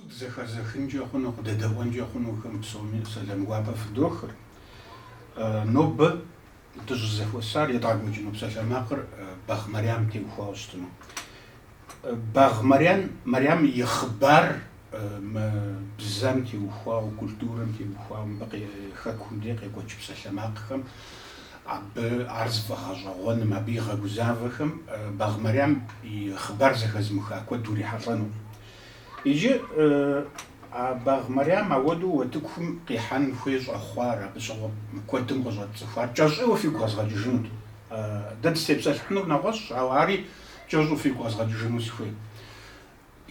Дызэхэзыхынкӏэ хъуну, къыдэдэӏуэнкӏэ хъунухэм псоми сэлам гуапэ фыдохыр. Нобэ дыщӏызэхуэсар едгъэкӏуэкӏыну псалъэмакъыр Багъ Марям теухуауэ щытыну. Багъ Марям, Марям и хъыбар мы бзэм теухуауэ, культурэм теухуауэ, мыбы хэкум дей къекӏуэкӏ псалъэмакъхэм, абы ар зыфӏэгъэщӏэгъуэным, абы игъэгузавэхэм Багъ Марям и хъыбар зэхэзымыха куэд урихьэлӏэнукъым. Иджы а Багъ Мэрям ауэдэу утыкум къихьэн хуей щӏэхъуар, абы щыгъуэ куэдым къыщӏэтцӏыхуар кӏэщӏыуэ фигу къэзгъэкӏыжынут. Дэ дыстепсэлъыхьынур нэгъуэщӏщ, ауэ ари кӏэщӏу фигу къэзгъэкӏыжыну сыхуей.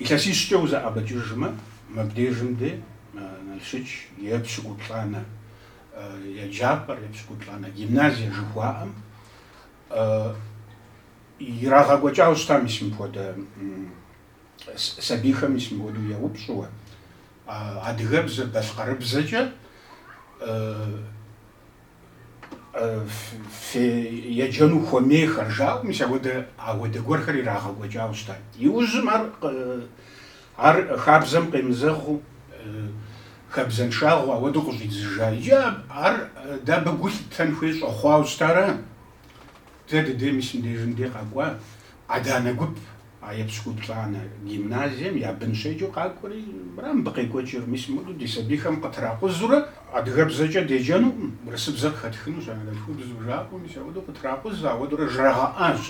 Илъэсищкӏэ узэӏэбэкӏыжмэ, мыбдежым де Налшыч епщыкӏуплӏанэ еджапӏэр, епщыкӏуплӏанэ гимназие жыхуаӏэм ирагъэкӏуэкӏауэ щыта, мис мыпхуэдэ Сабийхэм мис мыхуэдэу еупщӏыуэ, Адыгэбзэ балъкъэрыбзэкӏэ фееджэну хуэмейхэр? жаӏэу, мис ауэдэ гуэрхэр ирагъэкӏуэкӏауэ щытат. Иужьым ар хабзэм къемызэгъыу, хабзэншагъэу ауэдэу къыщӏидзыжа. Иджы ар дэ абы гу лъыттэн хуей щӏэхъуауэ щытара? Дэ дыдей мис мыдежым де къэкӏуа адэ-анэ гуп а епщыкӏуплӏанэ гимназием я бын щеджэу къакӏуэри, мыра мыбы къекӏуэкӏыр, мис мыду ди сабийхэм къытракъузурэ адыгэбзэкӏэ деджэнукъым, урысыбзэр къыхэтхынущ анэдэлъхубзу жаӏэуэ, мис ауэдэу къытракъуз, ауэдурэ жрагъэӏащ.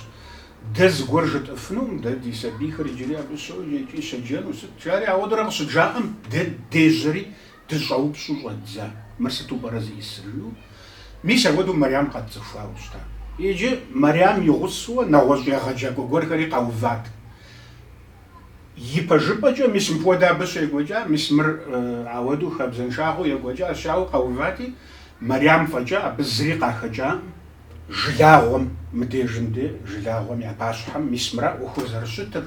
Дэ зыгуэр жытӏыфынукъым, дэ ди сабийхэр иджыри абы щоджэ икӏи щеджэну, сыт жари ауэдурэ къыщыджаӏэм, дэ дежьэри Дыщӏэупщӏу щӏэддза, мыр сыту пӏэрэ зиӏисыр, жиӏэу. Мис ауэдэу Мэрям къэтцӏыхуауэ щыта. Иджы Мэрям и гъусэуэ нэгъуэщӏ егъэджакӏуэ гуэрхэри къэуват. Ипэжыпӏэкӏэ мис мыпхуэдэ абы щекӏуэкӏа, мис мыр ауэдэу хабзэншагъэу екӏуэкӏащ, жаӏэуэ къэувати, Мэрям фӏэкӏа абы зыри къахэкӏакъым, жылагъуэм, мыдежым де жылагъуэм я пащхьэм мис мыра ӏуэхур зэрыщытыр,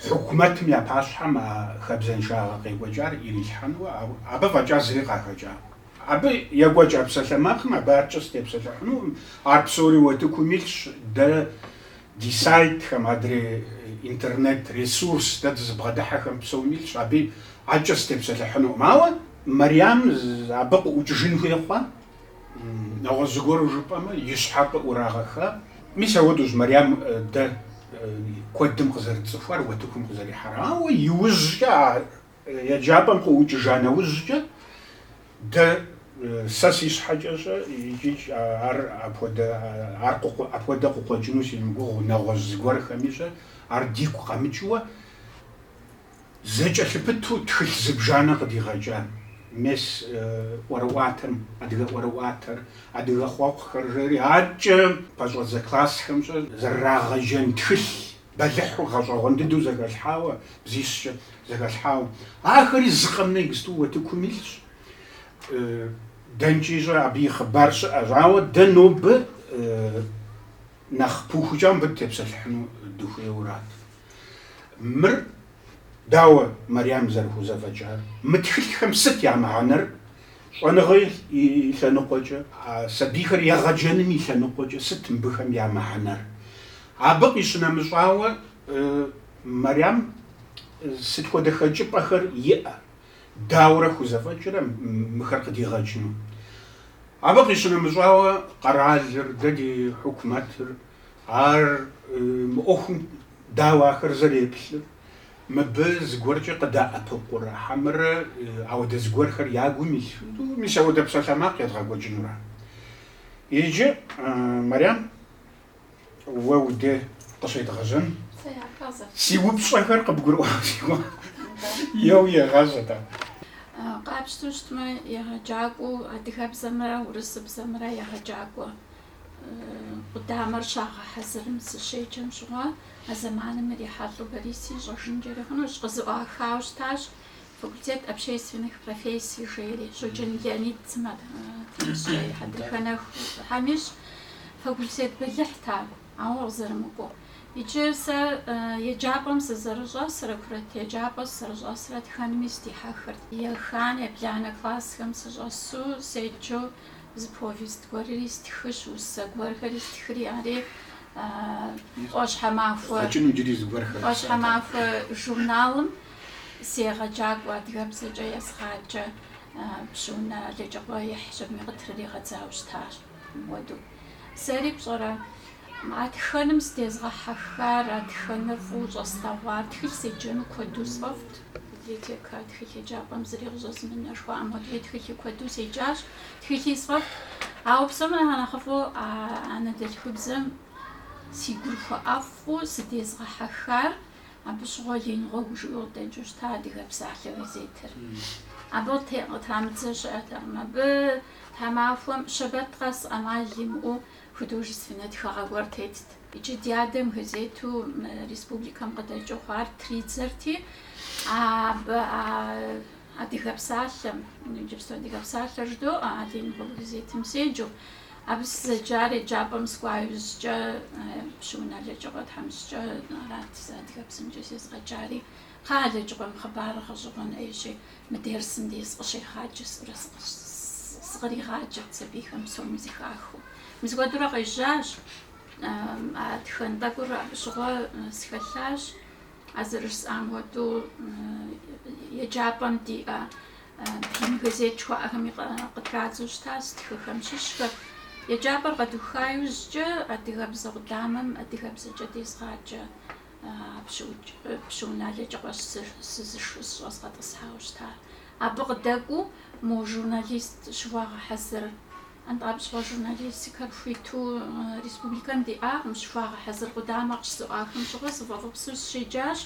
Хьукумэтым я пащхьэм а хабзэншагъэ къекӏуэкӏар ирилъхьэнуэ, абы фӏэкӏа зыри къахэкӏакъым. Абы екӏуэкӏа псалъэмакъым, абы аркӏэ сытепсэлъыхьынукъым, ар псори утыкум илъщ, дэ ди сайтхэм, адрей интернет ресурс дэ дызыбгъэдыхьэхэм псоми илъщ, абы аркӏэ сытепсэлъыхьынукъым. Ауэ Мэрям абы къыӏукӏыжын хуей хъуа. Нэгъуэщӏ зыгуэру жыпӏэмэ, и щхьэр къыӏурагъэха. Мис ауэдэущ Мэрям дэ куэдым къызэрытцӏыхуар, утыкум къызэрихьар. Ауэ иужькӏэ, а еджапӏэм къыӏукӏыжа нэужькӏэ, дэ, сэ си щхьэкӏэ щэ икӏи ар апхуэдэ, ар апхуэдэ къыкъуэкӏыну симыгугъэу, нэгъуэщӏ зыгуэрхэми щэ, ар дигу къэмыкӏыуэ, Зэкӏэлъыпыту тхылъ зыбжанэ къыдигъэкӏа мес ӏуэрыӏуатэм, адыгэ ӏуэрыӏуатэр, адыгэ хъуэхъухэр жери, адэкӏэ пэщӏэдзэ классхэм щхьэкӏэ зэрырагъэджэн тхылъ бэлыхьу гъэщӏэгъуэн дыдэу зэхэлъхьауэ, бзищкӏэ зэхэлъхьауэ. Ахэри зы къэмынэу иджыпсту уэтыкум илъщ. Дэнкӏи щӏэ абы и хъыбар щыӏэщ, ауэ дэ нобэ нэхъ пыухыкӏауэ мыбы дытепсэлъыхьыну дыхуейуэ арат. Мыр дауэ Марьям зэрыхузэфӏэкӏар? Мы тхылъхэм сыт я мыхьэнэр? Щӏэныгъэ и лъэныкъуэкӏэ, сабийхэр егъэджэным и лъэныкъуэкӏэ сыт мыбыхэм я мыхьэнэр? Абы къищынэмыщӏауэ, Марьям сыт хуэдэ хэкӏыпӏэхэр иӏэ? Дауэрэ хузэфӏэкӏрэ мыхэр къыдигъэкӏыну? Абы къищынэмыщӏауэ, къэралыр, дэ ди хьукумэтыр, Ар мы ӏуэхум дауэ ахэр зэреплъыр? Мыбы зыгуэркӏэ къыдэӏэпыкъурэ хьэмэрэ ауэдэ зыгуэрхэр я гум илъу, мис ауэдэ псалъэмакъ едгъэкӏуэкӏынура? Иджы, Мэрям, уэ уде къыщедгъэжьэн си упщӏэхэр къыбгурыӏуа си гугъэ, еуи егъэжьэ, тӏэ. Къапщтэу щытмэ, егъэджакӏуэу адыгэбзэмрэ урысыбзэмрэ егъэджакӏуэ. къудамэр щагъэхьэзырым сыщеджэм щыгъуэ, а зэманым ирихьэлӏэу Бориси ищӏэжынкӏэри хъунущ, къызэӏуахауэ щытащ факультет общественных профессий жери, Щоджэн Леонид тхьэмыщкӏэ, и хьэдрыхэ нэху Тхьэм ищӏ, факультет бэлыхьт ар, ауэ къызэрымыкӏуэу. Иджы сэ еджапӏэм сызэрыщӏэсрэ, курыт еджапӏэ сызэрыщӏэсрэ тхэнми сдихьэхырт. Еханэ, ебланэ классхэм сыщӏэсу, седжэу Зы повест гуэри стхыщ, усэ гуэрхэри стхри, ари ӏуащхьэмахуэ ӏуащхьэмахуэ журналым си егъэджакӏуэ, адыгэбзэкӏэ езыгъаджэ Пщыунэ Алэджыкъуэ ихьщ, абыми къытрыригъэдзауэ щытащ. Мыуэдэу сэри пщӏэрэ, А тхэным сыдезгъэхьэхар, а тхэныр фӏыуэ щӏэслъэгъуар, тхылъ седжэну куэду сфӏэфӏт. Библиотекэ тхылъ еджапӏэм зыри къыщӏэзымынэу жыхуаӏэм хуэдэу тхылъи куэду седжащ, тхылъи сфӏэфӏт. Ауэ псом нэхъ нэхъыфӏу а анэдэлъхубзэм си гур хуэӏэфӏу сыдезгъэхьэхар, абы щыгъуэ Ленин гъуэгу жиӏэу къыдэкӏыу щыта Адыгэ псалъэ газетыр. Абы къытрамыдзэ щыӏэтэкъым. Абы тхьэмахуэм щэбэт къэс ӏэмал имыӏэу Художественнэ тхыгъэ гуэр тетт. Иджы ди адэм газету мы республикэм къыдэкӏыу хъуар тридзэрти, абы а Адыгэ псалъэм, иджыпсту Адыгэ псалъэр жыдоӏэ, а Ленин гъуэгу газетым седжэу. Абы сызэджар еджапӏэм сыкӏуа иужькӏэ Пщыунэ Алэджыкъуэ тхьэмыщкӏэ арат сэ адыгэбзэмкӏэ сезыгъэджари. Кхъэ, Алэджыкъуэм хъыбарыр гъэщӏэгъуэн ӏейщи, Мы дерсым дей сыкъыщегъаджэ сурэ сыкъригъаджэрт сабийхэм псоми зыхахыу. Мис апхуэдэурэ къежьащ, а тхэн тӏэкӏур абы щыгъуэ схэлъащ, а зэрыжысӏам хуэдэу еджапӏэм диӏэ блын газет жыхуаӏэхэми къытрадзэу щытащ стхыхэм щыщхэр. Еджапӏэр къэдуха иужькӏэ адыгэбзэ къудамэм адыгэбзэкӏэ дезгъаджэ. Пщыунэ Алэджыкъуэщ сызышэу сыщӏэзыгъэтӏысхьауэ щыта. Абы къыдэкӏуэу мо журналист щыхуагъэхьэзыр антӏэ абы щыгъуэ журналистикэр хуиту республикэм диӏакъым. Щыхуагъэхьэзыр къудамэ къыщызэӏуахым щыгъуэ сфӏэфӏыпсу сыщеджащ.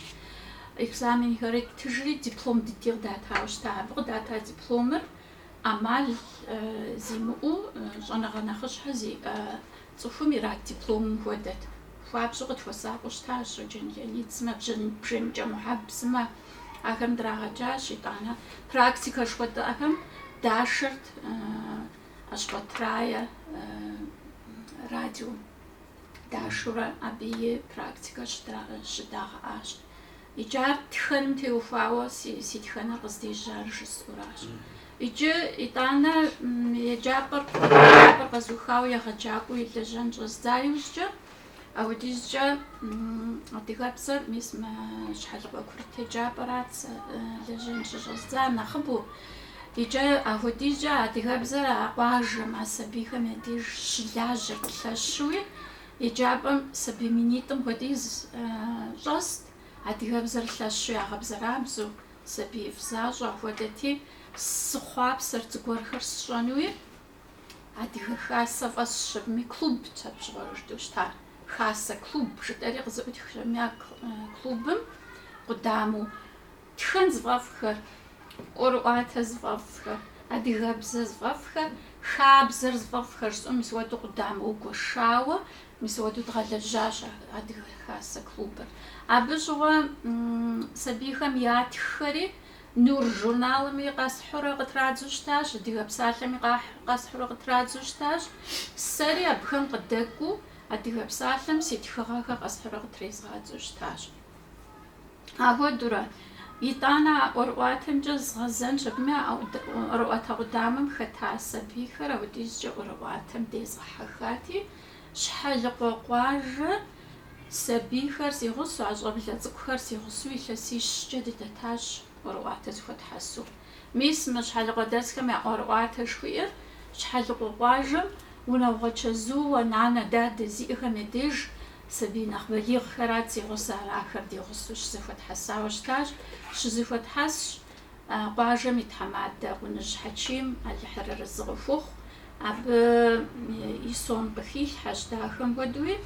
Экзаменхэри ттыжри, диплом дыди къыдатауэ щыта. Абы къыдата дипломыр ӏэмал зимыӏэу щӏэныгъэ нэхъыщхьэ зиӏэ цӏыхум ират дипломым хуэдэт. Хуабжьу къытхуэсакъыу щытащ Щоджэн Леонид сымэ, Бжэныкӏэ Мухьэб сымэ. Ахэм драгъэджащ, итӏанэ практикэ жыхуэтӏэхэм дашэрт Ащхъуэт Рае радиом. Дашэурэ абы и практикэр щыдагъэӏащ. Иджы ар тхэным теухуауэ си тхэныр къыздежьар жысӏэуращ. Иджы, итӏанэ, еджапӏэр къэзухауэ егъэджакӏуэу и лэжьэн щӏэздза иужькӏэ, апхуэдизкӏэ адыгэбзэр, мис мы Щхьэлыкъуэ курыт еджапӏэрат сэ лэжьэн щыщӏэздзар нэхъыбэу, иджы апхуэдизкӏэ адыгэбзэр а къуажэм, а сабийхэм я деж щылажьэрт лъэщуи, Еджапӏэм сабий минитӏым хуэдиз щӏэст, адыгэбзэр лъэщу ягъэбзэрабзэу, сабиифӏ защӏэ хуэдэти, сыхъуапсэрт зыгуэрхэр сщӏэнуи. Адыгэ Хасэ фӏэсщами, клубт абы щыгъуэ жытӏэу щытар. Хасэ клуб жытӏэри къызэӏутхщ аби а клубым къудамэу. Тхэн зыфӏэфӏхэр, ӏуэрыӏуатэ зыфӏэфӏхэр, адыгэбзэ зыфӏэфӏхэр, хабзэр зыфӏэфӏхэр щӏым мис уэдэу къудамэу гуэшауэ, мис уэдэу дгъэлэжьащ Адыгэ хасэ клубыр. Абы щыгъуэ сабийхэм ятххэри Нур журналми къэсхьурэ къытрадзу щытащ, Адыгэ псалъэми къэсхьурэ къытрадзу щытащ. Сэри абыхэм къыдэкӏуу Адыгэ псалъэм си тхыгъэхэр къэсхьурэ къытрезгъадзу щытащ. Ахуэдурэ, итӏанэ а ӏуэрыӏуатэмкӏэ згъэзэнщ абыми, а ӏуэрыӏуатэ къудамэм хэта сабийхэр апхуэдизкӏэ ӏуэрыӏуатэм дезгъэхьэхати, Щхьэлыкъуэ къуажэ сабийхэр си гъусэу, а щӏэблэ цӏыкӏухэр си гъусэу илъэсищкӏэ дыдэтащ ӏуэрыӏуатэ зыхуэтхьэсу. Мис мы щхьэлыкъуэдэсхэм я ӏуэрыӏуатэ жыхуиӏэр Щхьэлыкъуэ къуажэм унагъуэ чэзууэ нанэ дадэ зиӏэхэм я деж сабий нэхъ балигъхэрат си гъусэр, ахэр ди гъусэу щызэхуэтхьэсауэ щытащ, щызэхуэтхьэсщ къуажэм и тхьэмадэ Къуныжь Хьэчим, Алыхьыр арэзы къыхухъу, абы и сом къыхилъхьэщ дахэм хуэдэуи.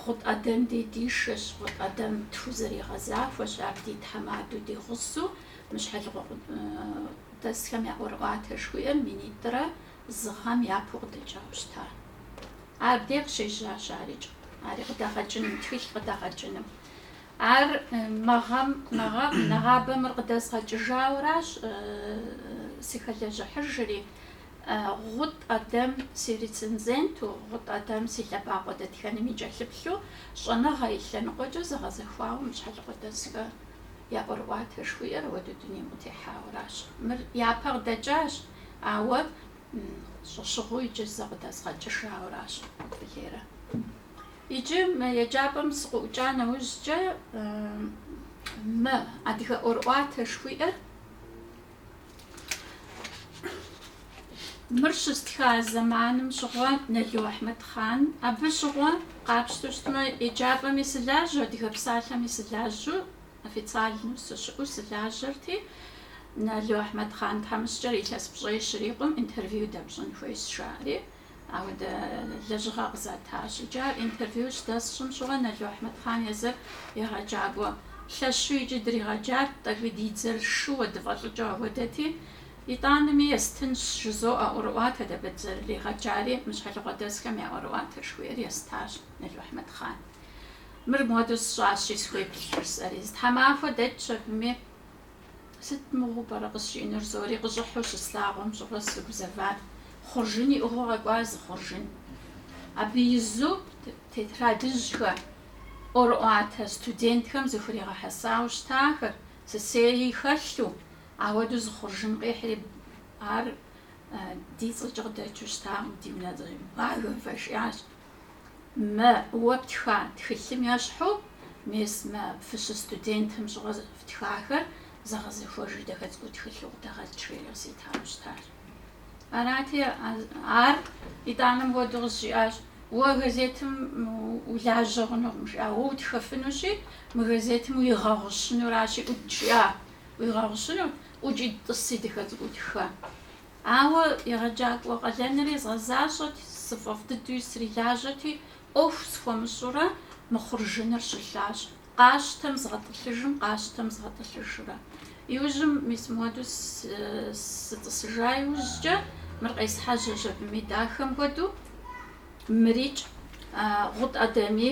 Гъут ӏэдэм дей дишэщ, Гъут ӏэдэм тхузэригъэзахуэщ, ар ди тхьэмадэу ди гъусэу мы щхьэлыкъуэдэсхэм я ӏуэрыӏуатэ жыхуиӏэр минитӏрэ зы гъэм япэу къыдэкӏауэ щыта. Абдей къыщежьащ арикӏ, ари къыдэгъэкӏыным, тхылъ къыдэгъэкӏыным. Ар мы гъэм, мы гъэм, нэгъабэ мыр къыдэзгъэкӏыжауэращ сыхэлэжьыхьыжри, Гъут ӏэдэм си рецензенту, Гъут ӏэдэм си лъэбакъуэ дэтхэным и кӏэлъыплъу, щӏэныгъэ и лъэныкъуэкӏэ зэгъэзэхуауэ мы щхьэлыкъуэдэсхэм я ӏуэрыӏуатэ жыхуиӏэр ауэдэу дунейм къытехьауэращ. Мыр япэ къыдэкӏащ, ауэ щӏэщыгъуу иджы зэ къыдэзгъэкӏыжауэращ Къудбылейрэ. Иджы мы еджапӏэм сыкъыӏукӏа нэужькӏэ мы адыгэ ӏуэрыӏуатэ жыхуиӏэр Мыр щыстха зэманым щыгъуэ Нало Ахьмэдхъан, абы щыгъуэ, къапщтэу щытмэ, еджапӏэми сылажьэ, адыгэ псалъэми сылажьэу, официальнэу сыщыӏэу сылажьэрти, Нало Ахьмэдхъан тхьэмыщкӏэр илъэс пщӏей щрикъум, интервью дэпщӏын хуейщ, жаӏэри. Ауэдэ лэжьыгъэ къызатащ. Иджы ар интервью щыдэсщӏым щыгъуэ Нало Ахьмэдхъан езыр егъэджакӏуэ лъэщу икӏи дригъэджат, тӏэкӏуи ди дзэр шууэ дыфӏэлӏыкӏыу ауэдэти, итӏанэми естынщ жызоӏэ ӏуэрыӏуатэ дэ абы дызэрыригъэджари, мы щхьэлыкъуэдэсхэм я ӏуэрыӏуатэ жыхуиӏэр естащ Нало Ахьмэдхъан. Мыр модэу сщӏащи, схуеплъ жысӏэри. Зы тхьэмахуэ дэкӏщ абыми. Сыт мыгъуу пӏэрэ къызжиӏэнур жызоӏэри къыщӏыхьу щыслъагъум щыгъуэ сыгузэват. Хъуржын иӏыгъыу къэкӏуа зы хъуржын. Абы изу тетрадыжьхэ, ӏуэрыӏуатэ студентхэм зыхуригъэхьэсауэ щытахэр, сысейи хэлъу, ауэдэу зы хъуржын къихьри, ар ди цӏэкӏэ къыдэкӏыу щытакъым, ди унэцӏэкӏэ. Багэм фӏэшиащ. Мэ, уэ птха тхылъым ещхьу, мес мэ фыщыстудентым щыгъуэ фтхахэр зэгъэзэхуэжу дахэ цӏыкӏуу тхылъу къыдэгъэкӏ жиӏэу къызитауэ щытащ. Арати, ар итӏанэм хуэдэу къызжиӏащ, Уэ газетым улажьэ хъунукъым, жиӏа, уэ утхэфынущи, мы газетым уигъэгъущынуращи, ӏукӏ, жиӏа, уигъэгъущынущ, ӏукӏи тӏыси дахэ цӏыкӏуу тхэ. Ауэ егъэджакӏуэ къалэнри згъэзащӏэти, сыфӏэфӏ дыдэуи срилажьэти, ӏуэху схуэмыщӏурэ, мы хъуржыныр щылъащ. Къащтэм згъэтӏылъыжым, къащтэм згъэтӏылъыжурэ. Иужьым мис модэу сытӏысыжа иужькӏэ, мыр къесхьэжьэщ абыми дахэм хуэдэу. Мырикӏ, Гъут Ӏэдэми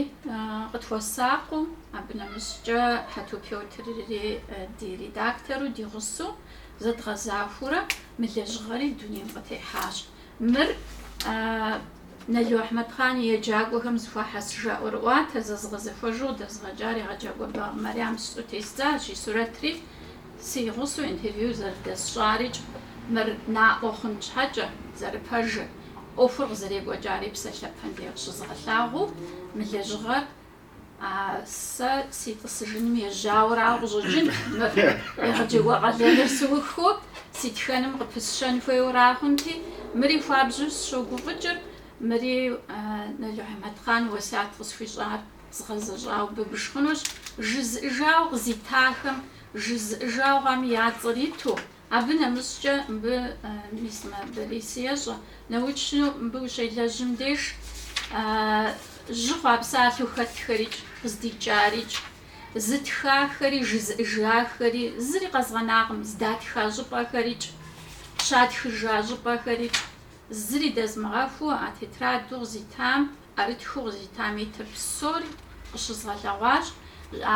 къытхуэсакъыу, абы нэмыщӏкӏэ Хьэту Пётрри ди редактору ди гъусэу зэдгъэзахуэурэ мы лэжьыгъэри дунейм къытехьащ. Мыр Нало Ахьмэдхъан и еджакӏуэхэм зыхуахьэсыжа ӏуэрыӏуатэ зэзыгъэзэхуэжу къыдэзыгъэкӏар егъэджакӏуэ Багъ Марьям жысӏэу тездзащ и сурэтри. Си гъусэу интервью зэрыдэсщӏарикӏ мыр наӏуэ хъун щхьэкӏэ, зэрыпэжыр, ӏуэхур къызэрекӏуэкӏари псалъэпэм де къыщызгъэлъагъуу, мы лэжьыгъэр а сэ си тӏысыжыным ежьауэрауэ къыщӏэкӏын, мыр егъэджакӏуэ къалэныр сыухыу, си тхэным къыпысщэн хуейуэра хъунти, мыри хуабжьу сыщогуфӏыкӏыр, мыри Нало Ахьмэдхъан уэсят къысхуищӏар згъэзэщӏауэ быбж хъунущ, жызыӏыжауэ къызитахэм Жызыӏыжахэм я цӏэр иту, абы нэмыщӏкӏэ мыбы мис мэ Борис ещӏэ, научнэу мыбы ущелэжьым деж жьы хъуа псалъэу хэтхэрикӏ, къыздикӏарикӏ, зытхахэри, жызыӏыжахэри, зыри къэзгъэнакъым, здатха щӏыпӏэхэрикӏ, щатхыжа щӏыпӏэхэрикӏ, зыри дэзмыгъэхуу а тетраду къызитам, ӏэрытхыу къызитам итыр псори къыщызгъэлъэгъуащ,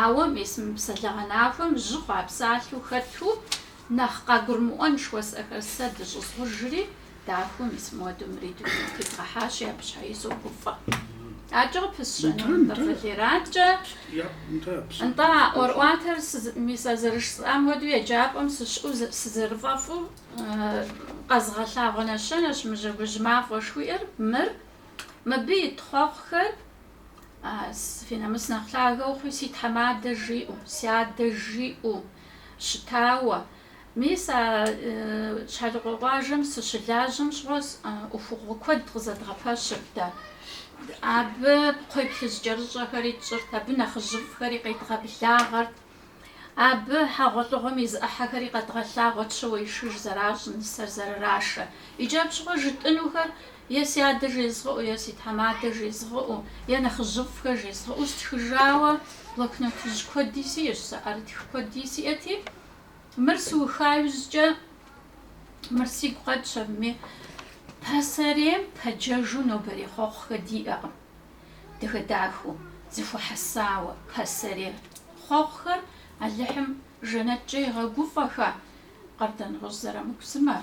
ауэ мис мы псалъэгъэнахуэм жьы хъуа псалъэу хэту, нэхъ къагурымыӏуэн жыхуэсӏэхэр сэ дыщӏызгъужри, дахэу мис модэу мыри дунейм къытедгъэхьащи, абы щхьэи согуфӏэ. Адэкӏэ къыпысщэнур мыр къылераткӏэ, нтӏэ, а ӏуэрыӏуатэр мис а зэрыжысӏам хуэдэу еджапӏэм сыщыӏэу сызэрыфӏэфӏу къэзыгъэлъагъуэ нэщэнэщ мы Жьэгужь мафӏэ жыхуиӏэр, мыр Мыбы ит хъуэхъухэр фи нэмыс нэхъ лъагэ ухъуи, си тхьэмадэ жиӏэу, си адэ жиӏэу щытауэ. Мис а Щхьэлыкъуэ къуажэм сыщылажьэм щыгъуэ ӏуэхугъуэ куэд къызэдгъэпэщырт дэ. Абы кхъуейплъыжькӏэрыщӏэхэри тщӏырт, абы нэхъыжьыфӏхэри къедгъэблагъэрт. Абы хьэгъуэлӏыгъуэм и зы ӏыхьэхэри къэдгъэлъагъуэт щауэишыж зэращӏ, нысэр зэрырашэ. Иджы абы щыгъуэ жытӏынухэр е си адэ жезгъыӏу, е си тхьэмадэ жезгъыӏу, е нэхъыжьыфӏхэр жезгъыӏу стхыжауэ, блокнотыжь куэди сиӏэщ, сэ ӏэрытх куэди сиӏэти, мыр сыуха иужькӏэ мыр сигу къэкӏщ абыми, пасэрейм пэджэжу нобэрей хъуэхъухэ диӏэкъым. дахэ-дахэу, зыхуэхьэсауэ, пасэрей хъуэхъухэр Алыхьым жэнэткӏэ игъэгуфӏэхэ, Къардэнгъущӏ Зырамыку сымэ,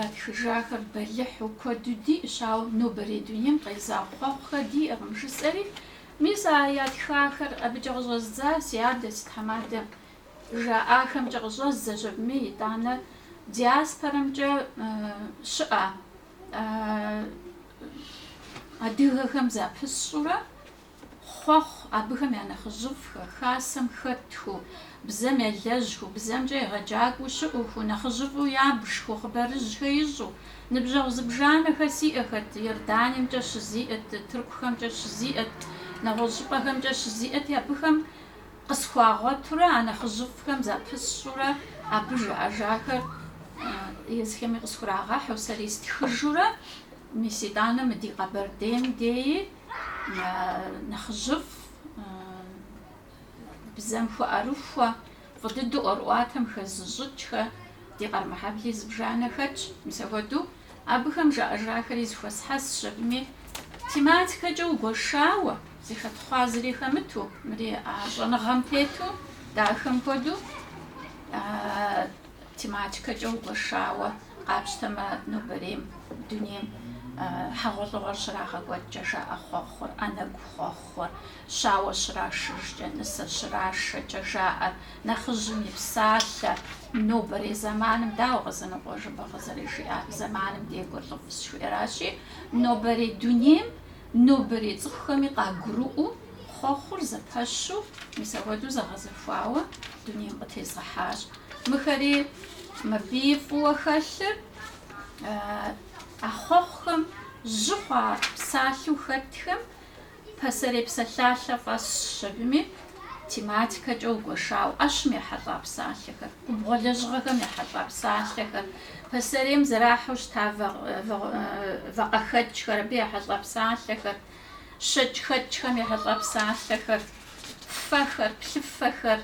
ятхыжахэр бэлыхьу куэду диӏэщ, ауэ нобэрей дунейм къезэгъ хъуэхъухэр диӏэкъым, жысӏэри, мис а ятхахэр абыкӏэ къыщӏэздза си адэ, си тхьэмадэ жаӏахэмкӏэ къыщӏэздзэщ абыми, итӏанэ диаспорэмкӏэ щыӏэ Адыгэхэм запысщӏурэ хъуэхъу абыхэм я нэхъыжьыфӏхэр, хасэм хэтхыу, бзэм елэжьхыу, бзэмкӏэ егъэджакӏуэу щыӏухыу, нэхъыжьыфӏу ябжхыу, хъыбарыжьхэ ищӏу, ныбжьэгъу зыбжанэхэр сиӏэхэт, Иорданиемкӏэ щызиӏэт, тыркухэмкӏэ щызиӏэт, нэгъуэщӏ щӏыпӏэхэмкӏэ щызиӏэти, абыхэм Къысхуагъуэтурэ а нэхъыжьыфӏхэм запысщӏурэ абы жаӏэжахэр езыхэми къысхурагъэхьу, сэри стхыжурэ, мис итӏанэ мы ди Къэбэрдейм деи нэхъыжьыфӏ бзэм хуэӏэрыхуэ, фӏы дыдэу ӏуэрыӏуатэм хэзыщӏыкӏхэ, ди Къэрмэхьэбли зыбжанэ хэтщ, мис ахуэдэу. Абыхэм жаӏэжахэри зыхуэсхьэсщ абыми, тематикэкӏэ угуэшауэ, зыхэтхъуа зыри хэмыту, мыри щӏэныгъэм тету, дахэм хуэдэу тематикэкӏэ угуэшауэ къапщтэмэ, нобэрейм, дунейм хьэгъуэлӏыгъуэр щрагъэкӏуэкӏкӏэ жаӏэ хъуэхъур, ӏэнэгу хъуэхъур, Щауэ щрашыжкӏэ, нысэ щрашэкӏэ жаӏэр нэхъыжьым и псалъэ. Нобэрей зэманым дауэ Къэзанокъуэ Жэбагъы зэрыжиӏар? Зэманым декӏур лӏыфӏщ жыхуиӏэращи, нобэрей дунейм, нобэрей цӏыхухэми къагурыӏуэу хъуэхъур зэпэщу, мис апхуэдэу зэгъэзэхуауэ дунейм къытезгъэхьащ. Мыхэри мыбы фӏыуэ хэлъыр а хъуэхъухэм жьы хъуа псалъэу хэтхэм Пасэрей псалъалъэ фӏэсщ абыми, тематикэкӏэ угуэшауэ, ӏэщым ехьэлӏа псалъэхэр, губгъуэ лэжьыгъэхэм ехьэлӏа псалъэхэр, пасэрейм зэрахьэу щыта вакъэхэкӏхэр, абы ехьэлӏа псалъэхэр, щэкӏхэкӏхэм ехьэлӏа псалъэхэр, фэхэр, плъыфэхэр,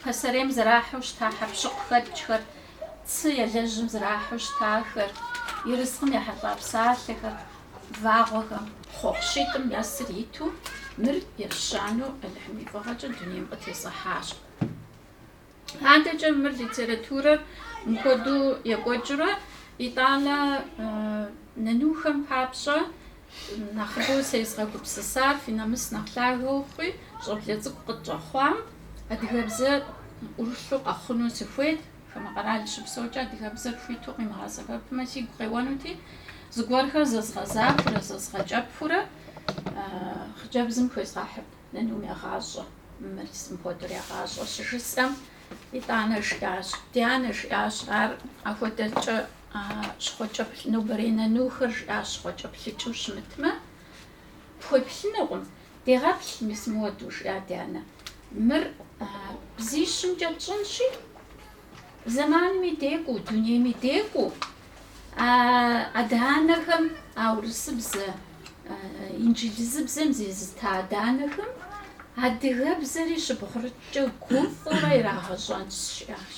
пасэрейм зэрахьэу щыта хьэкъущыкъухэкӏхэр, цы елэжьым зэрахьэу щытахэр, ерыскъым ехьэлӏа псалъэхэр, вагъуэхэм. Хъуэхъу щитӏым нэсыр иту мыр ещанэу Алыхьым и фӏыгъэкӏэ дунейм къытесхьащ. Адэкӏэ мыр литературэр мыхуэдэу екӏуэкӏрэ, итӏанэ нынухэм папщӏэ Нэхъыбэу сезгъэгупсысар фи нэмыс нэхъ лъагэ ухъуи, щӏэблэ цӏыкӏу къытщӏэхъуам, адыгэбзэ ӏурылъу къэхъуну сыхуейт, хамэ къэрал щыпсэукӏэ адыгэбзэр хуиту къимыгъэсэбэпмэ сигу къеуэнути, зыгуэрхэр зэзгъэзахурэ зэзгъэкӏэпхыурэ хъыджэбзым хуезгъэхьырт. Нынум егъащӏэ, мыр мис мыхуэдэу егъащӏэ, щыжысӏэм, итӏанэ жиӏащ, Ди анэ, жиӏащ ар, апхуэдэкӏэ щхъуэкӏэплъ, нобэрей нынухэр, жиӏащ, щхъуэкӏэплъыкӏыу щымытмэ, пхуеплъынукъым, дегъэплъ, мис мыуэду, жиӏа ди анэ, мыр бзищымкӏэ тщӏынщи, Зэманми декӏуу, дунейми декӏуу а адэ-анэхэм, а урысыбзэ, инджылызыбзэм зезыта адэ-анэхэм адыгэбзэри щыбгъурыткӏэ гуфӏэурэ ирагъэщӏэнщ жиӏащ.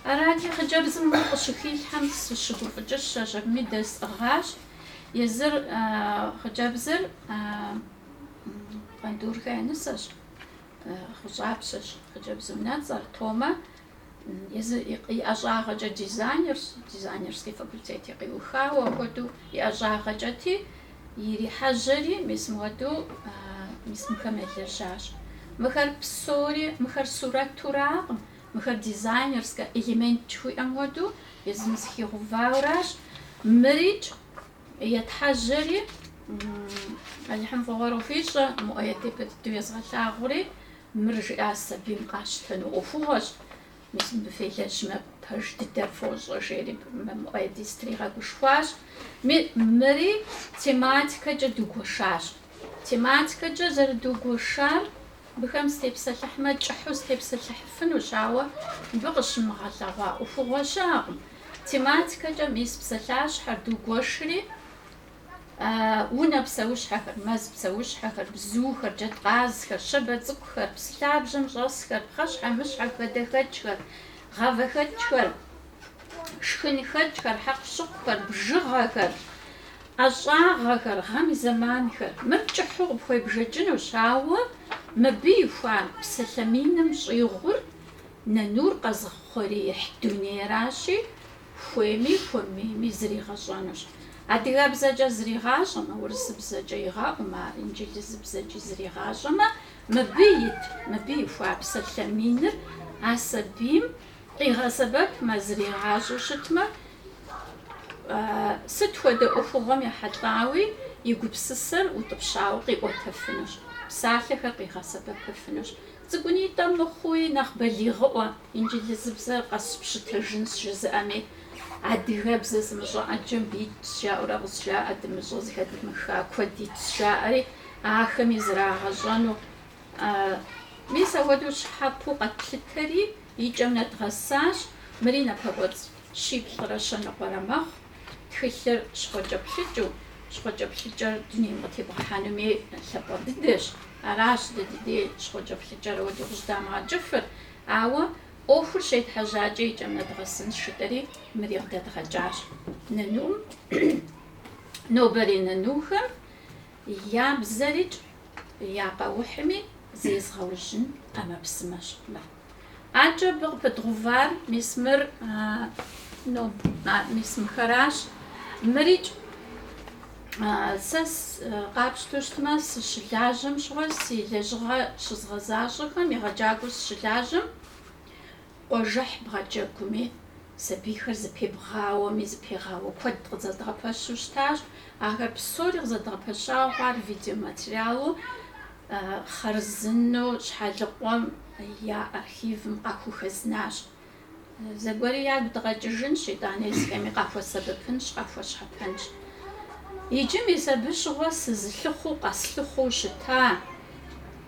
Арати, хъыджэбзым мыр къыщыхилъхьэм сыщыгуфӏыкӏыщащ, абыми дэсӏыгъащ. Езыр, хъыджэбзыр, Къандурхэ я нысэщ. Гъущӏапщэщ хъыджэбз унэцӏэр, Томэ, езыр и ӏэщӏагъэкӏэ дизайнерщ, дизайнерский факультети къиухауэ хуэдэу и ӏэщӏагъэкӏэти, ирихьэжьэри мис мыуэду мис мыхэм елэжьащ. Мыхэр псори, мыхэр сурэтуракъым, мыхэр дизайнерскэ элемент жыхуиӏэм хуэдэу езым зыхигъэувауэращ. Мырикӏ Етхьэжьэри, Алыхьым фӏыгъуэр къыхуищӏэ, Муӏэед япэ дыдэу езгъэлъагъури, мыр жиӏа сабийм къащтэну ӏуэхугъуэщ, мис мыбы фелэжьмэ, пэж дыдэ фощӏэ, жери Муӏэеди стригъэгушхуащ. Мыри тематикэкӏэ дугуэшащ. Тематикэкӏэ зэрыдугуэшар Быхэм степсэлъыхьмэ, кӏыхьу степсэлъыхьыфынущ, ауэ мыбы къыщымыгъэлъэгъуа ӏуэхугъуэ щыӏэкъым. Тематикэкӏэ мис псалъащхьэр, дугуэшри, унэ псэущхьэхэр, мэз псэущхьэхэр, бзухэр, джэдкъазхэр, щабэ цӏыкӏухэр, псы лъабжьэм щӏэсхэр, пхъэщхьэмыщхьэ хадэхэкӏхэр, гъавэхэкӏхэр, шхынхэкӏхэр, хьэкъущыкъухэр, бжыгъэхэр, ӏэщӏагъэхэр, гъэм и зэманхэр. Мыр кӏыхьу къыпхуебжэкӏынущ, ауэ мыбы ихуа псалъэ миным щӏигъур нынур къэзыухъуреихь дунейращи, хуейми хуэмейми зригъэщӏэнущ. Адыгэбзэкӏэ зригъащӏэмэ, урысыбзэкӏэ игъэӏумэ, ар инджылызыбзэкӏи зригъащӏэмэ, мыбы ит, мыбы ихуа псалъэ миныр а сабийм Къигъэсэбэпмэ, зригъащӏэу щытмэ, сыт хуэдэ ӏуэхугъуэм ехьэлӏауи и гупсысэр утӏыпщауэ къиӏуэтэфынущ, псалъэхэр къигъэсэбэпыфынущ. Цӏыкӏунитӏэ мыхъуи, нэхъ балигъыӏуэ, инджылызыбзэр къэсщыпщытэжынщ жызыӏэми, адыгэбзэ зымыщӏэ ӏэджэ мыбы итщ жаӏэурэ къызжаӏэ, дымыщӏэ зэхэдмыха куэд итщ жаӏэри, ахэми зрагъэщӏэну. Мис апхуэдэу щхьэпэу къэтлъытэри, и кӏэм нэдгъэсащ. Мыри напэкӏуэцӏ щиплӏрэ щэныкъуэрэ мэхъу. Тхылъыр щхъуэкӏэплъыкӏыу, щхъуэкӏэплъыкӏэр дунейм къытебгъэхьэнуми лъапӏэ дыдэщ. Аращ дэ ди дей щхъуэкӏэплъыкӏэр ауэдэу къыщӏыдамыгъэкӏыфыр. Ауэ ӏуэхур щетхьэжьакӏэ и кӏэм нэдгъэсынщ жытӏэри, мыри къыдэдгъэкӏащ. Нанум, нобэрей нанухэм. Я бзэрыкӏ я къэухьми зезыгъэужьын ӏэмэпсымэщ. Адэкӏэ абы къыпыдгъэувар мис мыр, ну, мис мыхэращ. Мырикӏ, сэ къапщтэу щытмэ, сыщылажьэм щыгъуэ, си лэжьыгъэ щызгъэзащӏэхэм егъэджакӏуэу сыщылажьэм, Къуажэхь бгъэджэгуми, сабийхэр зэпебгъауэми, зэпегъауэ куэд къызэдгъэпэщу щытащ. Ахэр псори къызэдгъэпэщауэ хъуар видеоматериалу хъарзынэу Щхьэлыкъуэм я архивым къахухэзнащ. Зэгуэри ягу дгъэкӏыжынщ, итӏанэ езыхэми къахуэсэбэпынщ, къахуэщхьэпэнщ. Иджы мис абы щыгъуэ сызылъыхъуу, къэслъыхъуу щыта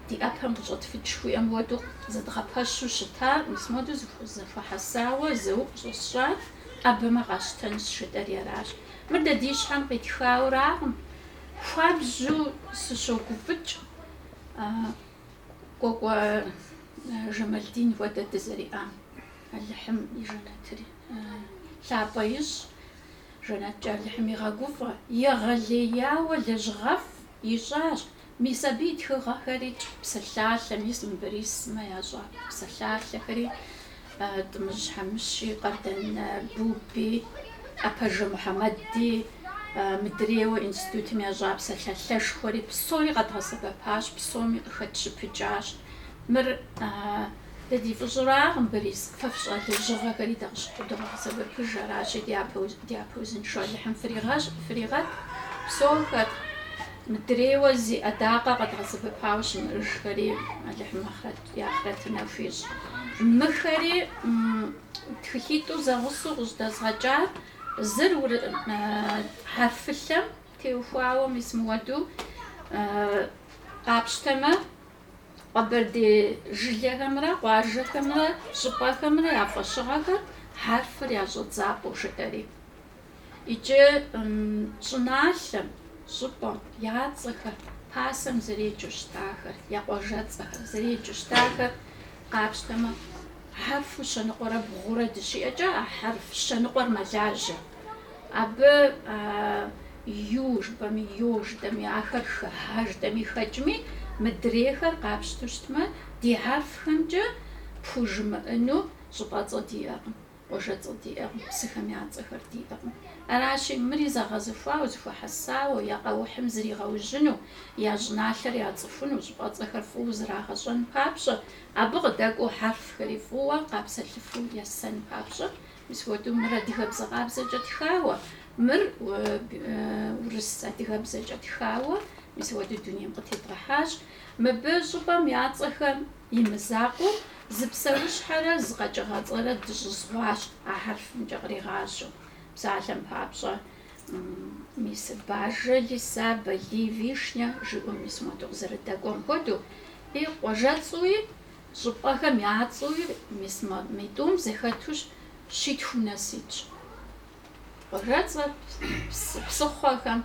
ди ӏэпэм къыщӏэтфыкӏ жыхуиӏэм хуэдэу зэдгъэпэщу щытар, мис модэу зэхуэхьэсауэ зэуӏу щӏэсщӏар ӏэбэмэ къащтэнщ жытӏэри аращ. Мыр дэ ди щхьэм къитхауракъым. Хуабжьу сыщогуфӏыкӏ Кӏуэкӏуэ Жамалдин хуэдэ дызэриӏам. Алыхьым и жэнэтри лъапӏэ ищӏ, жэнэткӏэ Алыхьым игъэгуфӏэ. Егъэлеяуэ лэжьыгъэфӏ ищӏащ, Мис абы и тхыгъэхэри, псалъалъэ, мис мы Борис сымэ ящӏа псалъалъэхэри, Тӏымыжь Хьэмыщи, Къардэн Буби, Апажэ Мухьэмэди, мыдрейуэ институтым ящӏа псалъалъэшхуэри, псори къэдгъэсэбэпащ, псоми къыхэтщыпыкӏащ. Мыр дэ ди фӏыщӏэракъым, Борис. Фэ фщӏа лэжьыгъэхэри дэ къыщыхудогъэсэбэпыж, аращи, дяпэ узыншэу Алыхьым фригъэт, псохэр. Мыдрейуэ зи ӏэдакъэ къэдгъэсэбэпауэ щымыӏэжхэри Алыхьым ахърэт, я ахърэтыр нэху ищӏ. Мыхэри тхылъитӏу зэгъусэу къыщӏыдэзгъэкӏар, зыр хьэрфылъэм теухуауэ мис мыуэду къапщтэмэ, къэбэрдей жылэхэмрэ къуажэхэмрэ щӏыпӏэхэмрэ я фӏэщыгъэхэр хьэрфыр я щӏэдзапӏэу жытӏэри. Иджы щӏыналъэм, щӏыпӏэм я цӏэхэр пасэм зэреджэу щытахэр, я къуажэцӏэхэр зэреджэу щытахэр къапщтэмэ, хьэрфу щэныкъуэрэ бгъурэ дыщиӏэкӏэ, а хьэрф щэныкъуэр мэлажьэ. Абы ю жыпӏэми, ё жытӏэми, ахэр хыхьа жытӏэми хэкӏми, мыдрейхэр къапщту щытмэ, ди хьэрфхэмкӏэ пхужымыӏыну щӏыпӏэцӏэ диӏэкъым. Къуажэцӏэ диӏэкъым, псыхэм я цӏэхэр диӏэкъым. Аращи, мыри зэгъэзыхуауэ, зыхуэхьэсауэ, я къэухьым зригъэужьыну, я щӏыналъэр яцӏыхуну, щӏыпӏэцӏэхэр фӏыуэ зрагъэщӏэн папщӏэ, абы къыдэкӏуэу хьэрфхэри фӏыуэ, къапсэлъыфу есэн папщӏэ. Мис хуэдэу мыр адыгэбзэ къабзэкӏэ тхауэ, мыр урыс адыгэбзэкӏэ тхауэ, мис хуэдэу дунейм къытедгъэхьащ. Мыбы щӏыпӏэм я цӏэхэм И мызакъуэу, зы псэущхьэрэ зы къэкӏыгъэцӏэрэ дыщӏызгъуащ а хьэрфымкӏэ къригъажьэу. Псалъэм папщӏэ, мис Бажэ, Лиса, Балий, Вишня жиӏэу мис моду къызэрыдэкӏуэм хуэдэу, и къуажэцӏуи, щӏыпӏэхэм я цӏуи мис мы тӏум зэхэту щитхум нэс итщ. Къуажэцӏэ псыхъуэхэм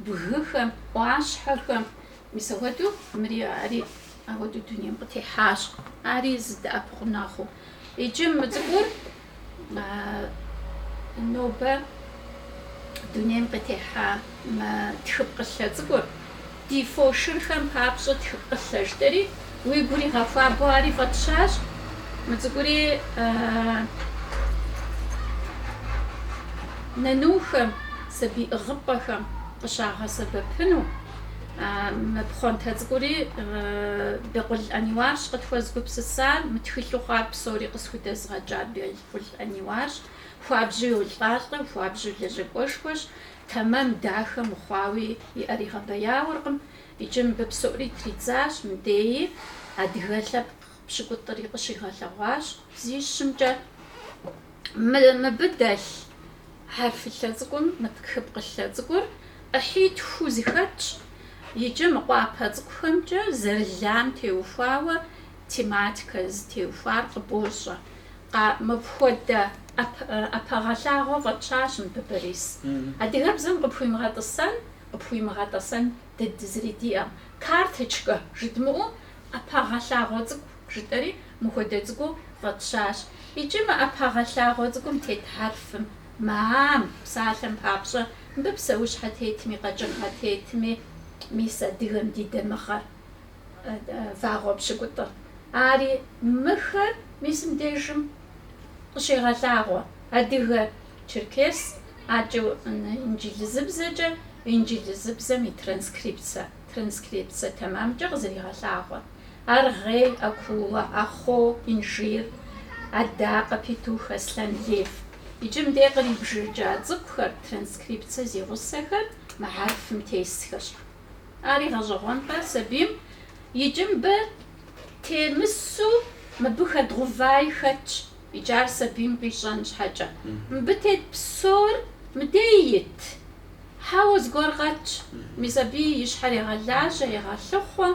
бгыхэм, ӏуащхьэхэм. Мис ахуэдэу мыри ари ахуэдэу дунейм къытехьащ, ари зы дэӏэпыкъуныгъэу. Иджы мы цӏыкӏур нобэ дунейм къытехьа мы тхыпкъылъэ цӏыкӏур ди фошырхэм папщӏэ тхыпкъылъэ жытӏэри, Уи гур игъэхуабэу ари фӏэтщащ. Мы цӏыкӏури нанухэм, сабий ӏыгъыпӏэхэм къыщагъэсэбэпыну, мы пхъуантэ цӏыкӏури Бекъул Ӏэниуарщ къытхуэзыгупсысар, мы тхылъу хъуар псори къысхудэзыгъэкӏар Бекъул Ӏэниуарщ. Хуабжьу йолӏалӏэ, хуабжьу лэжьакӏуэшхуэщ, тэмэм дахэу мыхъуауи и ӏэр игъэбэяуэркъым. Иджы мыбы псори тридзащ, мыдеи адыгэ лъэпкъ пщыкӏутӏри къыщигъэлъэгъуащ бзищымкӏэ. Мыбы дэлъ хьэрфылъэ цӏыкӏум, мы тхыпкъылъэ цӏыкӏур ӏыхьитху зыхэтщ. Иджы мы къуапэ цӏыкӏухэмкӏэ зэрылам теухуауэ тематикэ зытеухуар къыбощӏэ. Мыпхуэдэ ӏэпэгъэлъагъуэ фӏэтщащ мыбы Борис. Адыгэбзэм къыпхуимыгъэтӏысэн къыпхуимыгъэтӏэсэн дыдэ зыри диӏэм. Карточкэ жыдмыӏэу, ӏэпэгъэлъагъуэ цӏыкӏу жытӏэри мыхуэдэ цӏыкӏуу фӏэтщащ. Икӏи мы ӏэпэгъэлъагъуэ цӏыкӏум тет хьэрфым, мы ам, псалъэм папщӏэ, мыбы псэущхьэ тетми, къэкӏыгъэ тетми, мис адыгэм ди дамыгъэр вагъуэ пщыкӏутӏыр ари. Мыхэр мис мыбдежым къыщегъэлъагъуэ адыгэ Черкес, акӏэ инджылызыбзэкӏэ, инджылызыбзэм и транскрипцэ, транскрипцэ тэмэмкӏэ къызэригъэлъагъуэ. Аргъей, акула, ахъо, инжир, адакъэ, петух, аслъэн, лев. Иджы мыдей кърибжэкӏа цӏыкӏухэр, транскрипцэ зи гъусэхэр мы хьэрфым тесхэщ. Ар игъэщӏэгъуэнкъэ сабийм? Иджы мыбы темысу мыбы хэдгъэуваи хэтщ. Иджы ар сабийм къищӏэн щхьэкӏэ, мыбы тет псор мыдей ит. Хьэуэ, зыгуэр къэтщ, мис абы и щхьэр егъэлажьэ, егъэлъыхъуэ,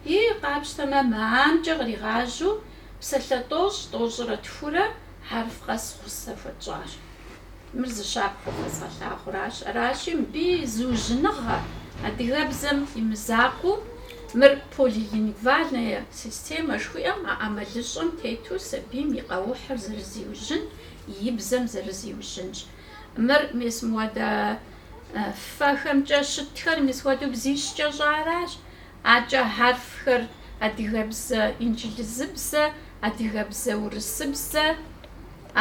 и къапщтэмэ мы амкӏэ къригъажьэу псалъэ тӏощӏ, тӏощӏрэ тхурэ хьэрф къэс гъусэ хуэтщӏащ. Мыр зы щапхъэу къэзгъэлъагъуращ. Аращи, мыбы и зыужьыныгъэ, адыгэбзэм и мызакъуэу, мыр полилингвальная системэ жыхуиӏэм а ӏэмалыщӏэм тету сабийм и къэухьыр зэрызиужьын, и бзэм зэрызиужьынщ. Мыр мис мыуэдэ фэхэмкӏэ щытхэр мис мыуэдэу бзищкӏэ щӏаращ. Акӏэ хьэрфхэр адыгэбзэ, инджылызыбзэ, адыгэбзэ, урысыбзэ.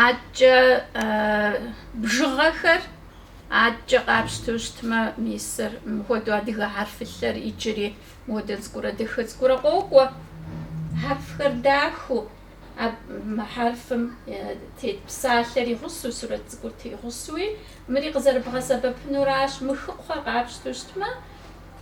Аткӏэ бжыгъэхэр аткӏэ къапщтэу щытмэ, мисыр мыхуэдэу адыгэ хьэрфылъэр иджыри мыуэдэ цӏыкӏурэ дахэ цӏыкӏурэ къокӏуэ. Хьэрфхэр дахэу, мы хьэрфым тет псалъэр и гъусэу, сурэт цӏыкӏур тегъусэуи, мыри къызэрыбгъэсэбэпынуращ. Мы хыкхъуэхэр къапщтэу щытмэ,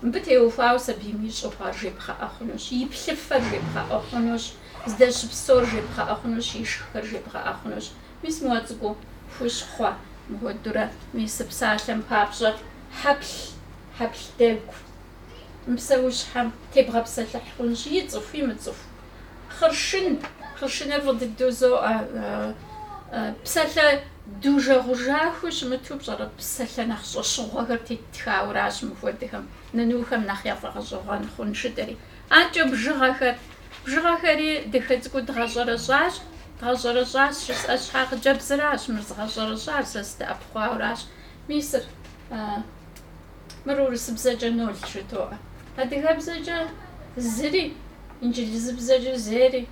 мыбы теухуауэ сабийм ищӏэу хъуар жебгъэӏэ хъунущ, и плъыфэр жебгъэӏэ хъунущ. Здэщыпсэур жебгъэӏэ хъунущ, ишххэр жебгъэӏэ хъунущ. Мис мыуэ цӏыкӏуу хущхъуэ, мыхуэдэурэ мис псалъэм папщӏэ хьэплъ, хьэплъ дэгу. Мы псэущхьэм тебгъэпсэлъыхь хъунщ ицӏыху, имыцӏыху. Хъыршын, хъыршыныр фӏы дыдэу зоӏэ. Псалъэ дужэгъужахэу щымыту пщӏэрэ, псалъэ нэхъ щӏэщыгъуэхэр теттхауэращ мыхуэдэхэм, нанухэм нэхъ яфӏэгъэщӏэгъуэн хъунщ жытӏэри. Акӏэ бжыгъэхэр. Бжыгъэхэри дахэ цӏыкӏуу дгъэщӏэрэщӏащ, дгъэщӏэрэщӏащ жысӏэ щхьэ, хъыджэбзыращ мыр згъэщӏэрэщӏар, сэ сыдэӏэпыкъуауэращ, мисыр, мыр урысыбзэкӏэ нол жытоӏэ. Адыгэбзэкӏэ зыри, инджылызыбзэкӏэ зери,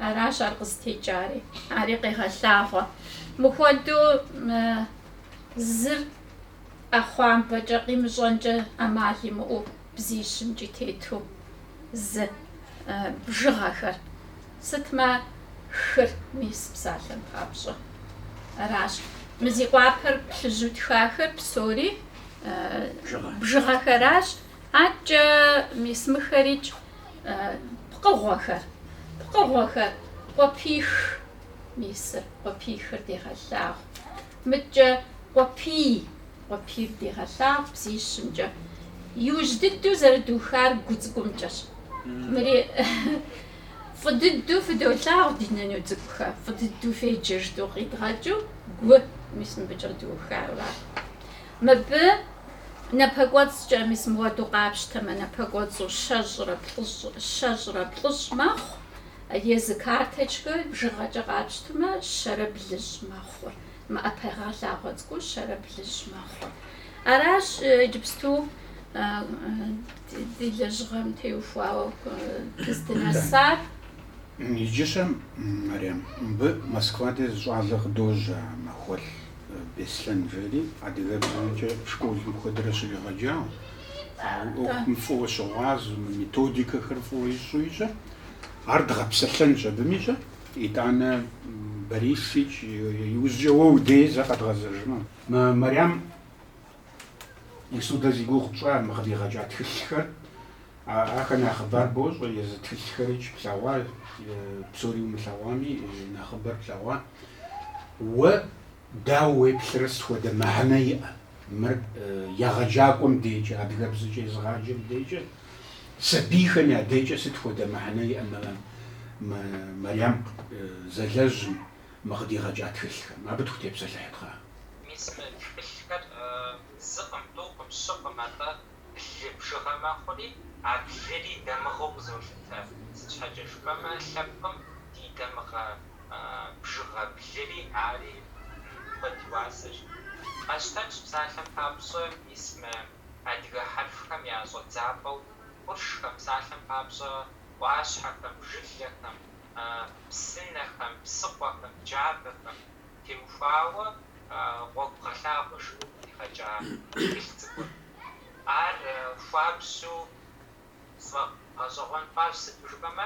аращ ар къызытекӏари, ари къегъэлъагъуэ. Мыхуэдэу зыр ӏэхъуамбэкӏэ, къимыщӏэнкӏэ ӏэмал имыӏэу. бзищымкӏи тету зы бжыгъэхэр, сытмэ хыр мис псалъэм папщӏэ. Аращ мы зи къуапэр плъыжьу тхахэр псори бжыгъэхэращ, аткӏэ мис мыхэрикӏ пкъыгъуэхэр, пкъыгъуэхэр къуэпих, мисыр къуэпихыр дегъэлъагъу, мыткӏэ къуэпий Къуэпийр дегъэлъагъу бзищымкӏэ. Иужь дыдэу зэрыдухар гу цӏыкӏумкӏэщ. Мыри фӏы дыдэу фыдолъагъу ди нэну цӏыкӏухэ, фӏы дыдэу феджэ жытӏэу къидгъэкӏыу гу, мис мыбыкӏэ духар ара. Мыбы напэкӏуэцӏкӏэ, мис мыуэду къапщтэмэ, напэкӏуэцӏу щэщӏрэ плӏыщӏ, щэщӏрэ плӏыщӏ мэхъу, езы карточкэ бжыгъэкӏэ къапщтэмэ, щэрэ блыщӏ мэхъу. Мы ӏэпэгъэлъагъуэ цӏыкӏур щэрэ блыщӏ мэхъу. Аращ иджыпсту ди лэжьыгъэм теухуауэ дыздынэсар. Иджы щӏэ, Мэриям, мыбы Москва де зы щӏалэ къыдожьэ, Махуэлӏ Беслъэн жери, адыгэбзэмкӏэ школым куэдрэ щригъэджауэ, ӏуэхум фӏыуэ щыгъуазэу, мы методикэхэр фӏыуэ ищӏу ищӏыр. Ар дгъэпсэлъэнщ абыми щӏэ. Итӏанэ, Борисыч, иужькӏэ уэ удей зэ къэдгъэзэжмэ. Мэриям мис мыдэ зи гугъу тщӏа мы къыдигъэкӏа тхылъхэр, ахэр нэхъыбар бощӏэ, езы тхылъхэрич плъэгъуа, псори умылъэгъуами, нэхъыбэр плъэгъуа. Уэ Дауэ уеплърэ сыт хуэдэ мыхьэнэ иӏэ мыр егъэджакӏуэм декӏэ, адыгэбзэкӏэ езыгъаджэм декӏэ, сабийхэм я декӏэ сыт хуэдэ мыхьэнэ иӏэ мы мы Мэриям зэлэжьым мы къыдигъэкӏа тхылъхэм? Абы тхутепсэлъыхьытхъэ? Мис мы тхылъхэр зыкъым, тӏукъым, щыкъым, атӏэ Блы бжыгъэ мэхъури, а блыри дамыгъэу къызолъытэ. Сыт щхьэкӏэ жыпӏэмэ, лъэпкъым ди дамыгъэ бжыгъэ блыри ари куэд и уасэщ. Къэщтэнщ псалъэм папщӏэ мис мы адыгэ хьэрфхэм я щӏэдзапӏэу къуршхэм, псалъэм папщӏэ ӏуащхьэхэм, жылэхэм, псынэхэм, псыкъуэхэм, джабэхэм теухуауэ гъуэгугъэлъагъуэ жиӏэу къыдигъэкӏа тхылъ цӏыкӏур. Ар хуабжьу сфӏэгъэщӏэгъуэн хъуащ, сыту жыпӏэмэ,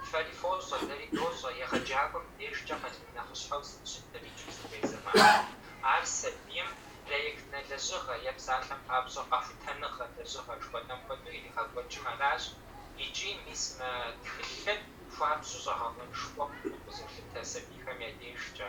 фэри фощӏэ, дэри дощӏэ, егъэджакӏуэм дежкӏэ къалэн нэхъыщхьэу сыт щытыр иджыпстурей зэманым. Ар сабийм проектнэ лэжьыгъэ е псалъэм папщӏэ къэхутэныгъэ лэжьыгъэ жыхуэтӏэм хуэдэу иригъэкӏуэкӏын аращ икӏи мис мы тхылъыр хуабжьу щӏэгъэкъуэнышхуэу къызолъытэ сабийхэм я дежкӏэ.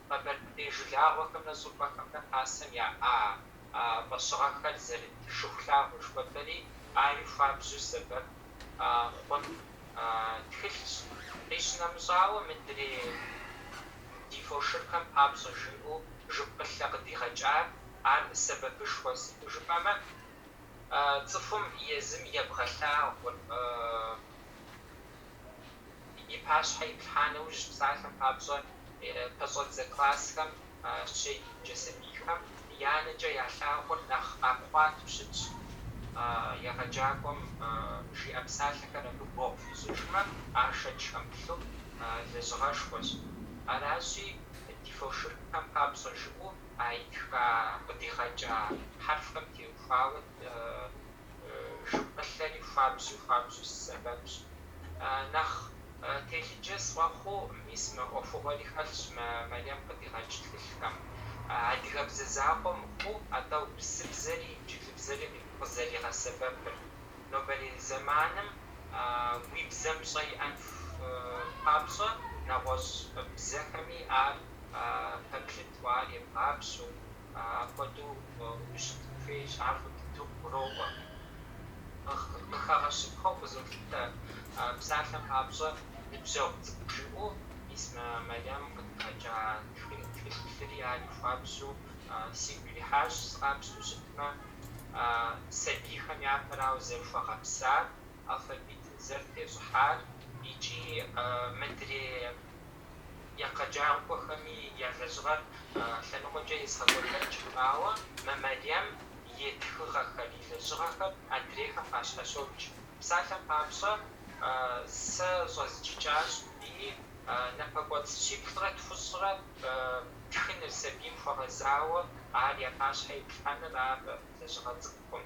къэбэрдей жылагъуэхэмрэ щӏыпӏэхэмрэ пасэм яӏа фӏэщыгъэхэр зэрыт Шыхулъагъуэ жыхуэтӏэри, ари хуабжьу сэбэп хъун тхылъщ. Къищынэмыщӏауэ, мыдрей ди фошыгъухэм папщӏэ жиӏэу жыпкъылъэ къыдигъэкӏар ар сэбэпышхуэ, сыту жыпӏэмэ, цӏыхум езым ебгъэлъагъур. и пащхьэ иплъхьа нэужь псалъэм папщӏэ пэщӏэдзэ классхэм щеджэ сабийхэм я нэкӏэ ялъагъур нэхъ къапхъуатэу щытщ. Егъэджакӏуэм жиӏэ псалъэхэр абы гуэгъу хуищӏыжмэ, ар шэч хэмылъу лэжьыгъэшхуэщ. Аращи, ди фошыгъухэм папщӏэ жиӏэу а итха къыдигъэкӏа хьэрфхэм теухуауэ жыпкъылъэри хуабжьу хуабжьу си сэбэпщ. Нэхъ телъыджэ сфӏэхъуу, мис мы ӏуэхугъуэри хэлъщ мы Марьям къыдигъэкӏ тхылъхэм. Адыгэбзэ закъуэ мыхъуу, атӏэ урысыбзэри инджылыбзэри къызэригъэсэбэпыр. Нобэрей зэманым уи бзэм пщӏэ иӏэн папщӏэ, нэгъуэщӏ бзэхэми ар пэплъыту, ар ебгъапщэу, апхуэдэу ущытын хуейщ, ар фӏы дыдэу къыгуроӏуэ. Къыхэгъэщыпхъэу къызолъытэ псалъэм папщӏэ, ныбжьэгъу цӏыкӏу жиӏэу мис мы Марьям къыдигъэкӏа тхылъри ари хуабжьу сигу ирихьащ, къапщтэу щытмэ, сабийхэм япэрауэ зэрыхуэгъэпсар, алфавитым зэрытещӏыхьар икӏи мыдрей Егъэджакӏуэхэми я лэжьыгъэр лъэныкъуэкӏэ езгъэкӏуэтэкӏкъым, ауэ мы Марьям и тхыгъэхэр, и лэжьыгъэхэр адрейхэм къащхьэщокӏ. Псалъэм папщӏэ, сэ щӏэзджыкӏащ, ии, напэкӏуэцӏ щиплӏрэ тхущӏрэ тхыныр, сабийм хуэгъэзауэ ар я пащхьэ иплъхьэныр, ар лэжьыгъэ цӏыкӏукъым.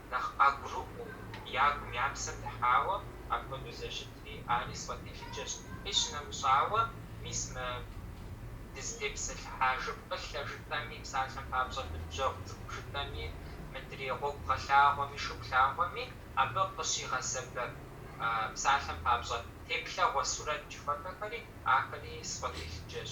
нэхъ къагурыӏуэу, ягум я псэм дыхьауэ, апхуэдэу зэрыщытри, ари сфӏэтелъыджэщ. Къищынэмыщӏауэ, мис мы дызытепсэлъыхьа жыпкъылъэ жытӏэми, псалъэм папщӏэ ныбжьэгъу цӏыкӏу жытӏэми, мыдрей Гъуэгугъэлъагъуэми, Шыхулъагъуэми, абы къыщигъэсэбэп псалъэм папщӏэ теплъэгъуэ сурэт жыхуэпӏэхэри, ахэри сфӏэтелъыджэщ.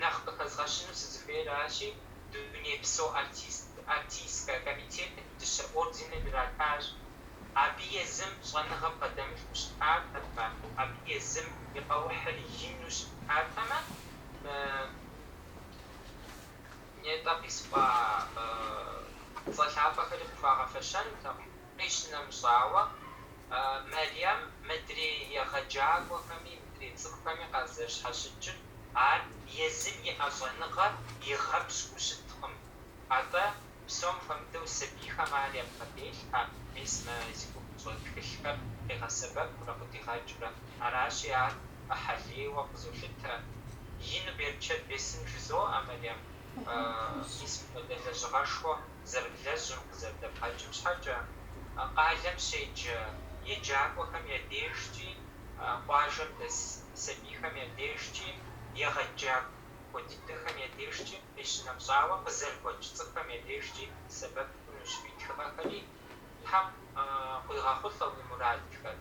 нэхъ къыхэзгъэщыну сызыхуейращи, Дунейпсо артистскэ комитетым и дыщэ орденыр иратащ. Абы езым щӏэныгъэ бгъэдэмылъу щытатэмэ, абы езым и къэухьыр ину щытатэмэ, нетӏэ къисӏуа цӏэ лъапӏэхэри къыхуагъэфэщэнутэкъым. Къищынэмыщӏауэ, Мэриям мыдрей егъэджакӏуэхэми мыдрей цӏыхухэми къазэрыщхьэщыкӏыр, ар езым иӏэ щӏэныгъэр игъэпщкӏуу щыткъым. Атӏэ, псом хуэмыдэу сабийхэм ар ябгъэделъхьэ, мис мы зи гугъу тщӏы тхылъхэр къигъэсэбэпурэ къыдигъэкӏыурэ. Аращи, ар ӏыхьэлейуэ къызолъытэ. Ину берчэт бесын жызоӏэ Мэриям, мис мыпхуэдэ лэжьыгъэшхуэ. зэрыблэжьым къызэрыдэбгъэкӏым щхьэкӏэ, къалэм щеджэ еджакӏуэхэм я дежкӏи, къуажэм дэс сабийхэм я дежкӏи, егъэджакӏуэ дыдэхэм я дежкӏи, къищынэмыщӏауэ, къызэрыгуэкӏ цӏыхухэм я дежкӏи сэбэп хъунущ уи тхыгъэхэри. Тхьэм къуигъэхъулӏэ уи мурадхэр.